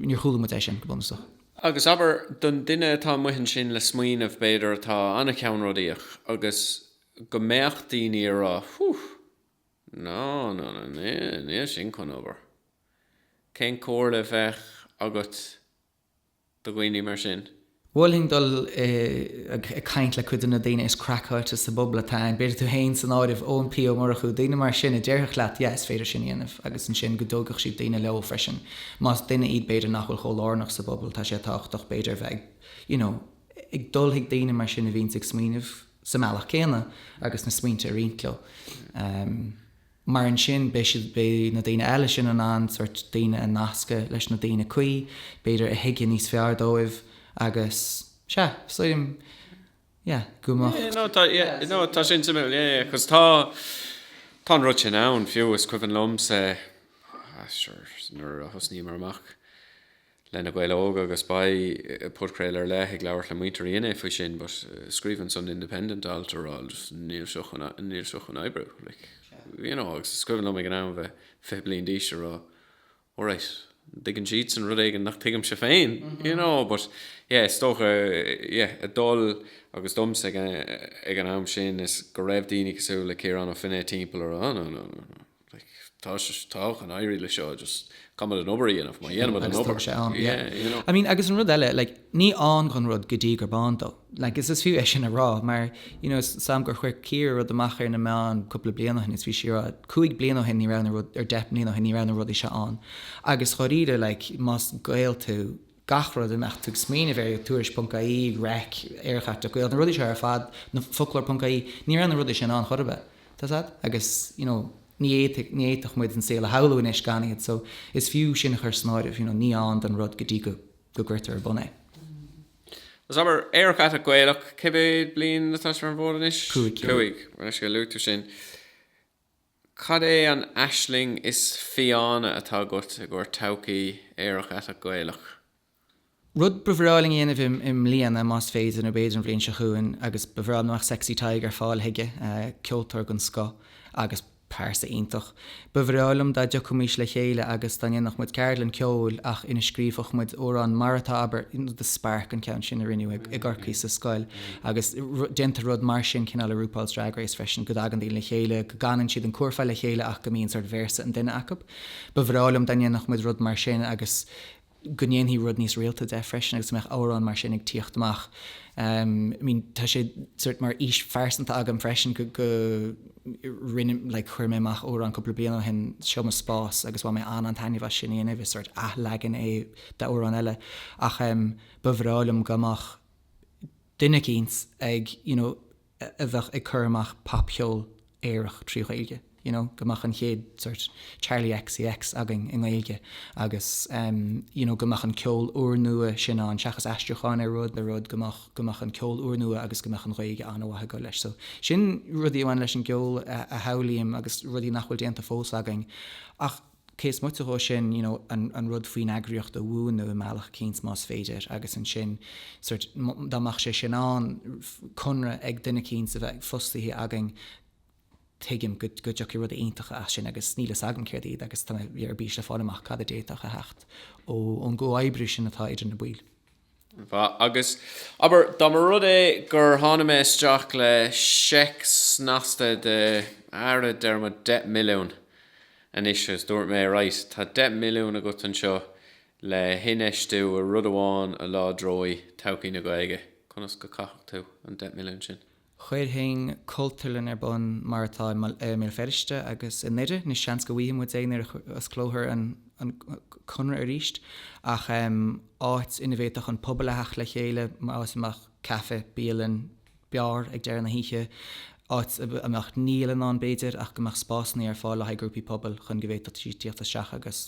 níor chuala muid é sin go bunúsach. Agus abair, don duine atá amuigh ansin le smaoineamh b'fhéidir atá an-cheannródaíoch agus go mbeadh daoine ag rá ú no no no níl sin chun obair cén comhairle a bheadh agat do dhaoine mar sin. Mholfainn dul ag caint le cuid de na daoine is craiceáilte sa bpobal atá ann, b'fhéidir tú féin san áireamh, Eoin P Ó Murchú, daoine mar sin a déarfadh leat 'yeah, is féidir sin a dhéanamh' agus ansin go dtógfadh siad daoine leo freisin, más duine iad b'fhéidir nach bhfuil chomh lárnach sa bpobal, tá sé tábhachtach b'fhéidir a bheith ag you know ag dul chuig daoine mar sin a bhíonns ag smaoineamh sa mbealach céanna agus na smaointe a roinnt leo. mar ansin beidh siad, beidh na daoine eile sin in ann sórt daoine a nascadh leis na daoine cuí, b'fhéidir a thuigfidh níos fearr dóibh agus sea, sílim, yeah, go mbeadh. Yeah, no, tá, yeah, no, tá sin suimiúil, yeah, yeah, cos tá, tá an rud sin ann fiú, is cuimhin liomsa, ah, sure, nuair a thosnaíomar amach, le Na Gaeil Óga agus beidh podchraoladh ar leith ag labhairt le muintir INI faoi sin but scríobh an Sunday Independent alt ag rá like just níl seo chun níl seo chun oibriú like you know agus is cuimhin liom ag an am bheith 20 bliain d'aois ag rá alright an dtuigeann siadsan rud éigin nach dtuigimse féin you know but yeah is dócha yeah a dul agus domsa ag an, ag an am sin is go raibh daoine cosúil le Ciarán Ó Feinneadha timpeall ag rá no no no no Tá sé, tá, chun éirí le seo, just caithfimid an obair a dhéanamh, má dhéanaimid an obair. Agus tá sé ann, yeah. Yeah, you know. I mean, agus an rud eile, like, ní ann don rud go dtí gurb ann dó. Like, is is fiú é sin a rá, mar, you know, sílim gur chuir Ciara rud amach ar na meáin cúpla bliain ó shin, is bhí sí ag rá, cúig bliain ó shin ní raibh na rud, or deich mbliana ó shin ní raibh na rudaí seo ann. Agus dáiríre, like, más Gael tú, gach rud a mbeadh tú ag smaoineamh air, tuairisc.ie, REIC, Aerach Aiteach Gaelach, na rudaí seo ar fad, foclóir.ie, ní raibh na rudaí sin ann chor ar bith, tá 's a'd, agus you know ní fhéadfaidh, ní fhéadfadh muid an saol a shamhlú anois gan iad so is fiú sin a chur san áireamh, you know ní ann don rud go dtí go go gcuirtear ar bun é. Is abair, Aerach Aiteach Gaelach, cé mhéad bliain atá siad ar an bhfód anois? Cúig. Cúig, anois go luaitear sin. Cad é an aisling is fiáine atá agat i gcomhair todhchaí aerach aiteach Gaelach? Rud ba bhreá liom a dhéanamh i mbliana, más féidir, nó b'fhéidir an bhliain seo chugainn, agus ba bhreá liom go mbeadh Sexy Tadhg ar fáil chuige, ceoltóir den scoth agus pearsa iontach. Ba bhreá liom dá dtiocfaimis le chéile agus dá ndéanfadh muid ceardlann ceoil ach ina scríobhfadh muid amhrán mar atá, abair, The Spark, an ceann sin a rinneadh i gCorcaigh sa scoil. Agus déantar rud mar sin cineál le RuPaul's Drag Race freisin, go dtagann daoine le chéile, go gcanann siad an cúrfá le chéile ach go mbíonn sórt véarsa an duine acub. Ba bhreá liom dá ndéanfadh muid rud mar sin agus go ndéanfaí rud níos rialta de freisin agus go mbeadh amhráin mar sin ag tíocht amach. I mean tá sé sort mar fhís phearsanta agam freisin go go rinne like chuir mé amach amhrán cúpla bliain ó shin seo mo spás agus bhain mé an an-taitneamh as sin a dhéanamh is sort athleagan é d'amhrán eile ach ba bhreá liom go mbeadh duine eicínt ag you know a bheith ag cur amach popcheol aerach trí Ghaeilge you know go mbeadh an chéad sort Charli XCX againn i nGaeilge agus em you know go mbeadh an ceol úrnua sin ann seachas aistriúcháin ar rud nó rud go mbeadh go mbeadh an ceol úrnua agus go mbeadh an Ghaeilge an-mhaith ag goil leis so sin rudaí a bhain leis an gceol a shamhlaím agus rudaí nach bhfuil déanta fós againn ach cé is moite dhó sin, you know an an rud faoin eagraíocht a bhunú i mbealach eicínt más féidir agus ansin sort dá mbeadh sé sin ann, conradh ag duine eicínt a bheith fostaithe againn tuigim go go dtiocfadh rudaí iontacha as sin agus níl a fhios agam céard iad agus tá mé ar bís le fáil amach cad a d'fhéadfadh a theacht ó ón gcomhoibriú sin atá idir na baill. Agus, abair, dá mba rud é gur tháinig mé isteach le seic snasta de, ara, déarfaimid deich milliún anois agus dúirt mé, right, tá deich milliún agat anseo le hinfheistiú i rud amháin a láidreoidh todhchaí na Gaeilge, conas go gcaithfeadh tú an deich milliún sin? chuirfinn cultúrlann ar bun mar atá i mBéal Feirste agus i nDoire, anois seans go bhfaighfidh muid é nuair a osclófar an Conradh arís, ach áit ina bhféadfadh an pobal a theacht le chéile, áit a mbeadh caife, bialann, beár ag deireadh na hoíche, áit a mbeadh níolann ann b'fhéidir ach go mbeadh spásanna ar fáil le haghaidh grúpaí pobail chun go bhféadfaidís tíocht isteach agus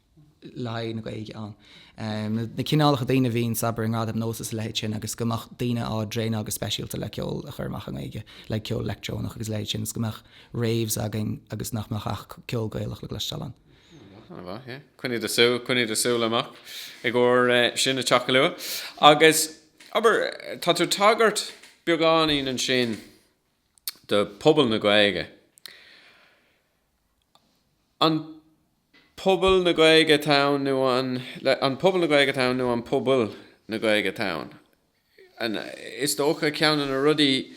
le haghaidh na Gaeilge ann, na cineálacha daoine a bhíonn ag seinm ag Gradaim NÓS is a leithéid sin agus go mbeadh daoine á dtraenáil go speisialta le ceol a chur amach i nGaeilge, like ceol leictreonach agus a leithéid sin, is go mbeadh raves againn agus nach mbeadh ach ceol Gaelach le cloisteáil ann. Ana mhaith, yeah. Coinnigh do shúil, coinnigh do shúil amach i gcomhair sin ag teacht go luath. Agus, abair, tá tú ag tagairt beagáinín ansin do phobal na Gaeilge. an pobal na Gaeilge town nó an an pobal na Gaeilge town nó an pobail na Gaeilge town and is dócha ceann de na rudaí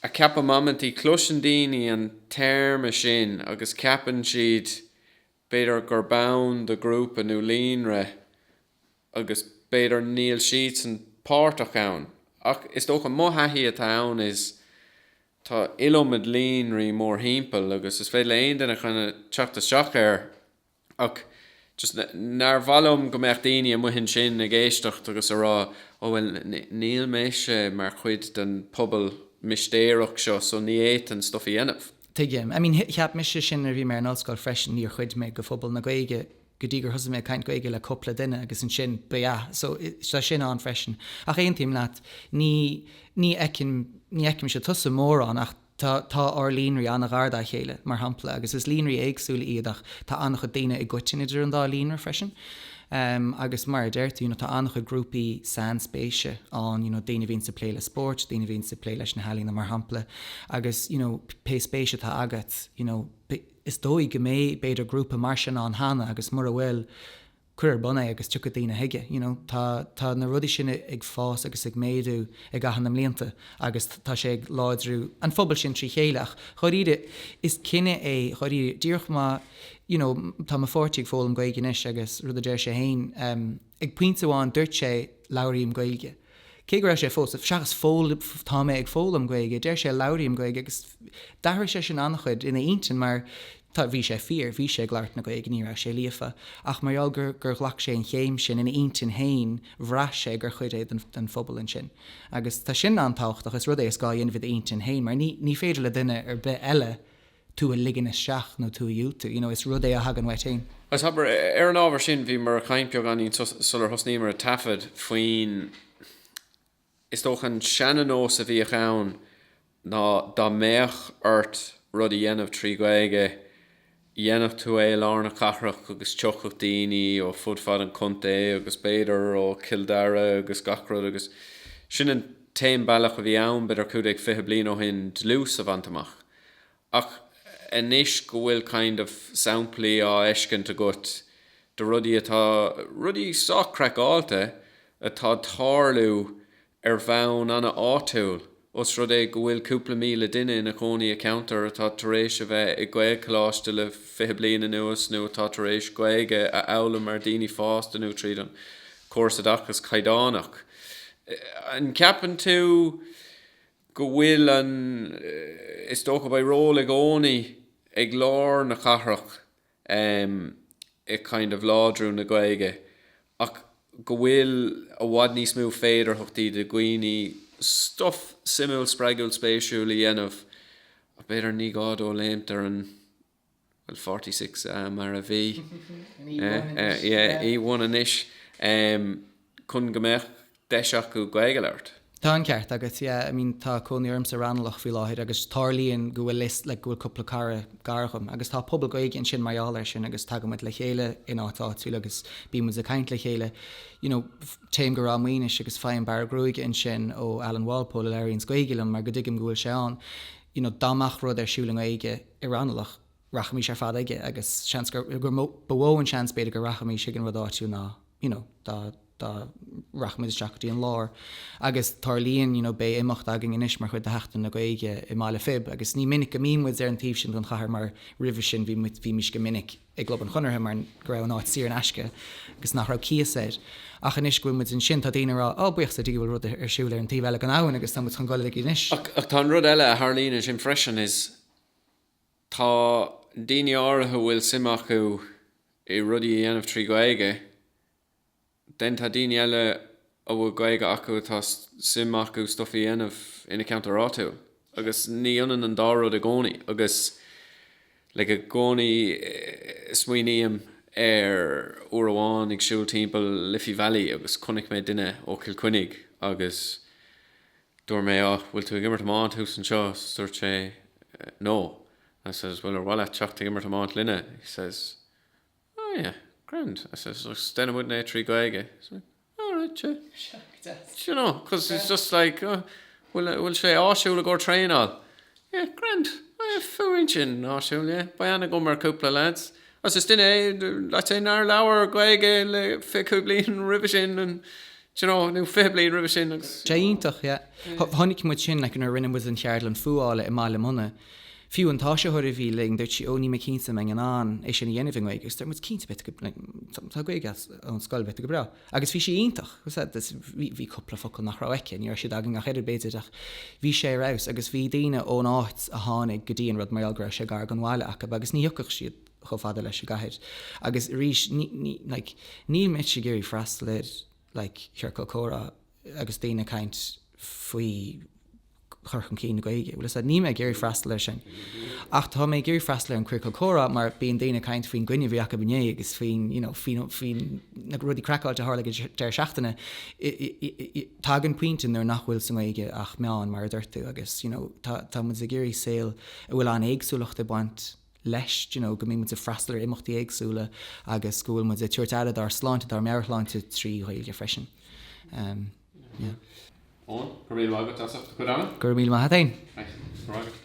a cheapaim amantaí cloiseann daoine an téarma sin agus ceapann siad b'fhéidir gurb ann do ghrúpa nó líonra agus b'fhéidir níl siadsan páirteach ann, ach is dócha, mo thaithí atá ann ná tá iliomad líonraí mórthimpeall agus is féidir le haon duine kind of teacht isteach air ach just nár mhaith liom go mbeadh daoine amuigh ansin ag éisteacht agus a rá oh bhuel níl mise mar chuid den phobal mistéireach seo so ní fhéadfainn stuff a dhéanamh. Tuigim. I mean, cheap mise sin nuair a bhí mé ar an ollscoil freisin, níor chuid mé de phobal na Gaeilge go dtí gur thosaigh mé ag caint Gaeilge le cúpla duine agus ansin ba yeah so tá sin ann freisin ach aontaím leat ní ní fheicim ní fheicimse tusa mórán ach tá tá ár líonraí an-ghar dá chéile mar shampla agus is líonraí éagsúla iad ach tá an-chuid daoine i gcoiteann idir an dá líonra freisin um agus mar a deir tú you know tá an-chuid grúpaí sainspéise ann you know daoine a bhíonns ag plé le spórt daoine a bhíonns ag plé leis na healaíona mar shampla agus you know pé spéis atá agat you know Is dóigh go mbeidh, b'fhéidir, grúpa mar sin ann cheana agus mura bhfuil, cuir ar bun é agus tiocfaidh daoine chuige. You know, tá, tá na rudaí sin ag fás agus ag méadú i gcaitheamh na mblianta agus tá sé ag láidriú an phobail sin trí chéile ach, dháiríre, is cinneadh é, dháiríre, díreach má, you know, tá mo pháirtí ag foghlaim Gaeilge anois agus rud a deir sé féin, em, ag pointe amháin, dúirt sé, labhraím Gaeilge. Cé go raibh sé ag foghl-, seachas tá mé ag foghlaim Gaeilge, deir sé labhraím Gaeilge agus d'athraigh sé sin an-chuid ina intinn mar tá, bhí sé fíor, bhí sé ag labhairt na Gaeilge, ní raibh sé líofa ach mar gheall gur, gur ghlac sé an chéim sin ina intinn féin, bhraith sé gur chuid é den, den phobal ansin. Agus tá sin an-tábhachtach, is rud é is gá a dhéanamh i d'intinn féin mar ní, ní féidir le duine ar bith eile, tú a ligean isteach nó tú a dhiúltú, you know, is rud é a thagann uait fhéin. Agus abair, ar an ábhar sin, bhíomar ag caint beagáinín sular thosnaíomar ag taifead faoin, is dócha, an seananós a bhíodh ann ná dá mbeadh ort rud a dhéanamh trí Ghaeilge, dhéanfadh tú é i lár na cathrach agus thiocfadh daoine ó fud fad an chontae agus b'fhéidir ó Chill Dara agus gach rud agus sin an t-aon bealach a bhí ann, b'fhéidir, cúig déag fiche bliain ó shin, dlús a bhaint amach. Ach anois go bhfuil kind of samplaí á fheiceáil agat de rudaí atá, rudaí sách craiceáilte atá ag tarlú ar bhonn an-áitiúil, os rud é go bhfuil cúpla míle duine ina chónaí i ceantar atá tar éis a bheith i nGaelcholáiste le fiche bliain anuas nó atá tar éis Gaeilge a fhoghlaim mar daoine fásta nó tríd an córas oideachas caighdeánach. An gceapann tú. go bhfuil an, is dócha, beidh ról i gcónaí ag lár na cathrach i kind of láidriú na Gaeilge ach go bhfuil i bhfad níos mó féidearthachtaí do dhaoine stuff suimiúil, spreagúil, spéisiúil a dhéanamh ach b'fhéidir ní gá dóibh léimt ar an. Forty Six mar a bhí, E1 anois, chun go mbeadh deis acu Gaeilge a labhairt. Tá an ceart agat, yeah, I mean tá cónaí orm i Raghnallach faoi láthair agus tarlaíonn go bhfuil list, like go bhfuil cúpla cara gar dhom agus tá pobal Gaeilge ansin mar gheall air sin agus tagann muid le chéile in áit áitiúil agus bíonn muid ag caint le chéile, you know, téim go Ráth Maonais agus faighim bearradh gruaige ansin ó Alan Walpole a labhraíonns Gaeilge liom mar go dtuigim go bhfuil sé ann. you know dá mbeadh rud ar siúl i nGaeilge i Raghnallach, rachaimis ar fad aige agus seans gur gur mó ba mhó an seans b'fhéidir go rachaimis chuig an rud áitiúil ná you know dá dá rachaimis isteach go dtí an lár agus tarlaíonn you know beidh imeacht againn anois mar chuid de Sheachtain na Gaeilge i mBaile Phib agus ní minic go mbíonn muid ar an taobh sin den chathair mar roimhe sin bhí muid bhímis go minic i gClub an Chonartha mar go raibh an áit saor in aisce agus nach raibh cíos air. Ach anois go bhfuil muid ansin, tá daoine ag rá, 'Ó, buíochas le Dia go bhfuil rud ar siúl ar an taobh eile den abhainn agus tá muid chun dul chuige anois. Ach tá rud eile a tharlaíonn ansin freisin, is tá daoine áirithe a bhfuil suim acu i rudaí a dhéanamh trí Ghaeilge, den, tá daoine eile a bhfuil Gaeilge acu atá suim acu stuif a dhéanamh ina ceantar áitiúil agus ní ionann an dá rud i gcónaí agus like i gcónaí smaoiním ar uair amháin ag siúl timpeall Liffey Valley agus chonaic mé duine ó Chill Chainnigh agus dúirt mé oh bhfuil tú ag imirt iomáint thuas anseo is dúirt sé no I says bhuel ar mhaith leat teacht ag imirt iomáint linne he says Oh yeah, grand, I says, déanann muidne é trí Gaeilge. He said, all right, sure. Seo go deas. Do you know, because it's just like, oh, bhfuil, bhfuil sé áisiúil i gcomhair traenáil? Yeah, grand, oh yeah, bhfuil sin áisiúil, yeah. Beidh ann i gcomhair cúpla lads. Agus is duine é, let's say, nár labhair Gaeilge le fiche bliain roimhe sin and, you know, nó cúig bliana roimhe sin agus. Tá sé iontach, yeah. Chonaic muid sin, like, nuair a rinne muid an cheardlann fuála i mBaile Munna. Fiú an t-áisitheoir a bhí linn, dúirt sí, oh, níl mé cinnte an mbeinn in ann é sin a dhéanamh i nGaeilge. Agus dúirt muid, cinnte, beidh tú, like, tá Gaeilge agat ón scoil, beidh tú go breá. Agus bhí sí iontach. Agus that, that's, bhí, bhí cúpla focal nach raibh aici, ní raibh siad againn ach oiread b'fhéidir, ach bhí sé ar fheabhas. Agus bhí daoine ón áit a tháinig go dtí an rud mar gheall go raibh sé gar don bhaile acu agus ní thiocfadh siad chomh fada leis an gcathair agus arís níl mise ag iarraidh freastal ar chiorcal comhrá agus daoine ag caint faoi chur chun cinn na Gaeilge, bhuel, is ea, níl mé ag iarraidh freastal air sin ach tá mé ag iarraidh freastal ar an chiorcal comhrá mar bíonn daoine ag caint faoin gcoinne a bhí acu inné agus faoin, you know, faoi na rudaí craiceáilte a tharla ag an deireadh seachtaine. Tagann pointe nuair nach bhfuil sa nGaeilge ach meán, mar a duirt tú, agus, you know, tá muid ag iarraidh saol a bhfuil an-éagsúlacht ag baint leis you know go mbíonn muid ag freastal ar imeachtaí éagsúla agus go bhfuil muid ag tabhairt aire dár sláinte, dár meabhairshláinte trí Ghaeilge freisin. Um, yeah. Eoin, go raibh maith agat, a Dana. Go raibh míle maith agat. Thanks.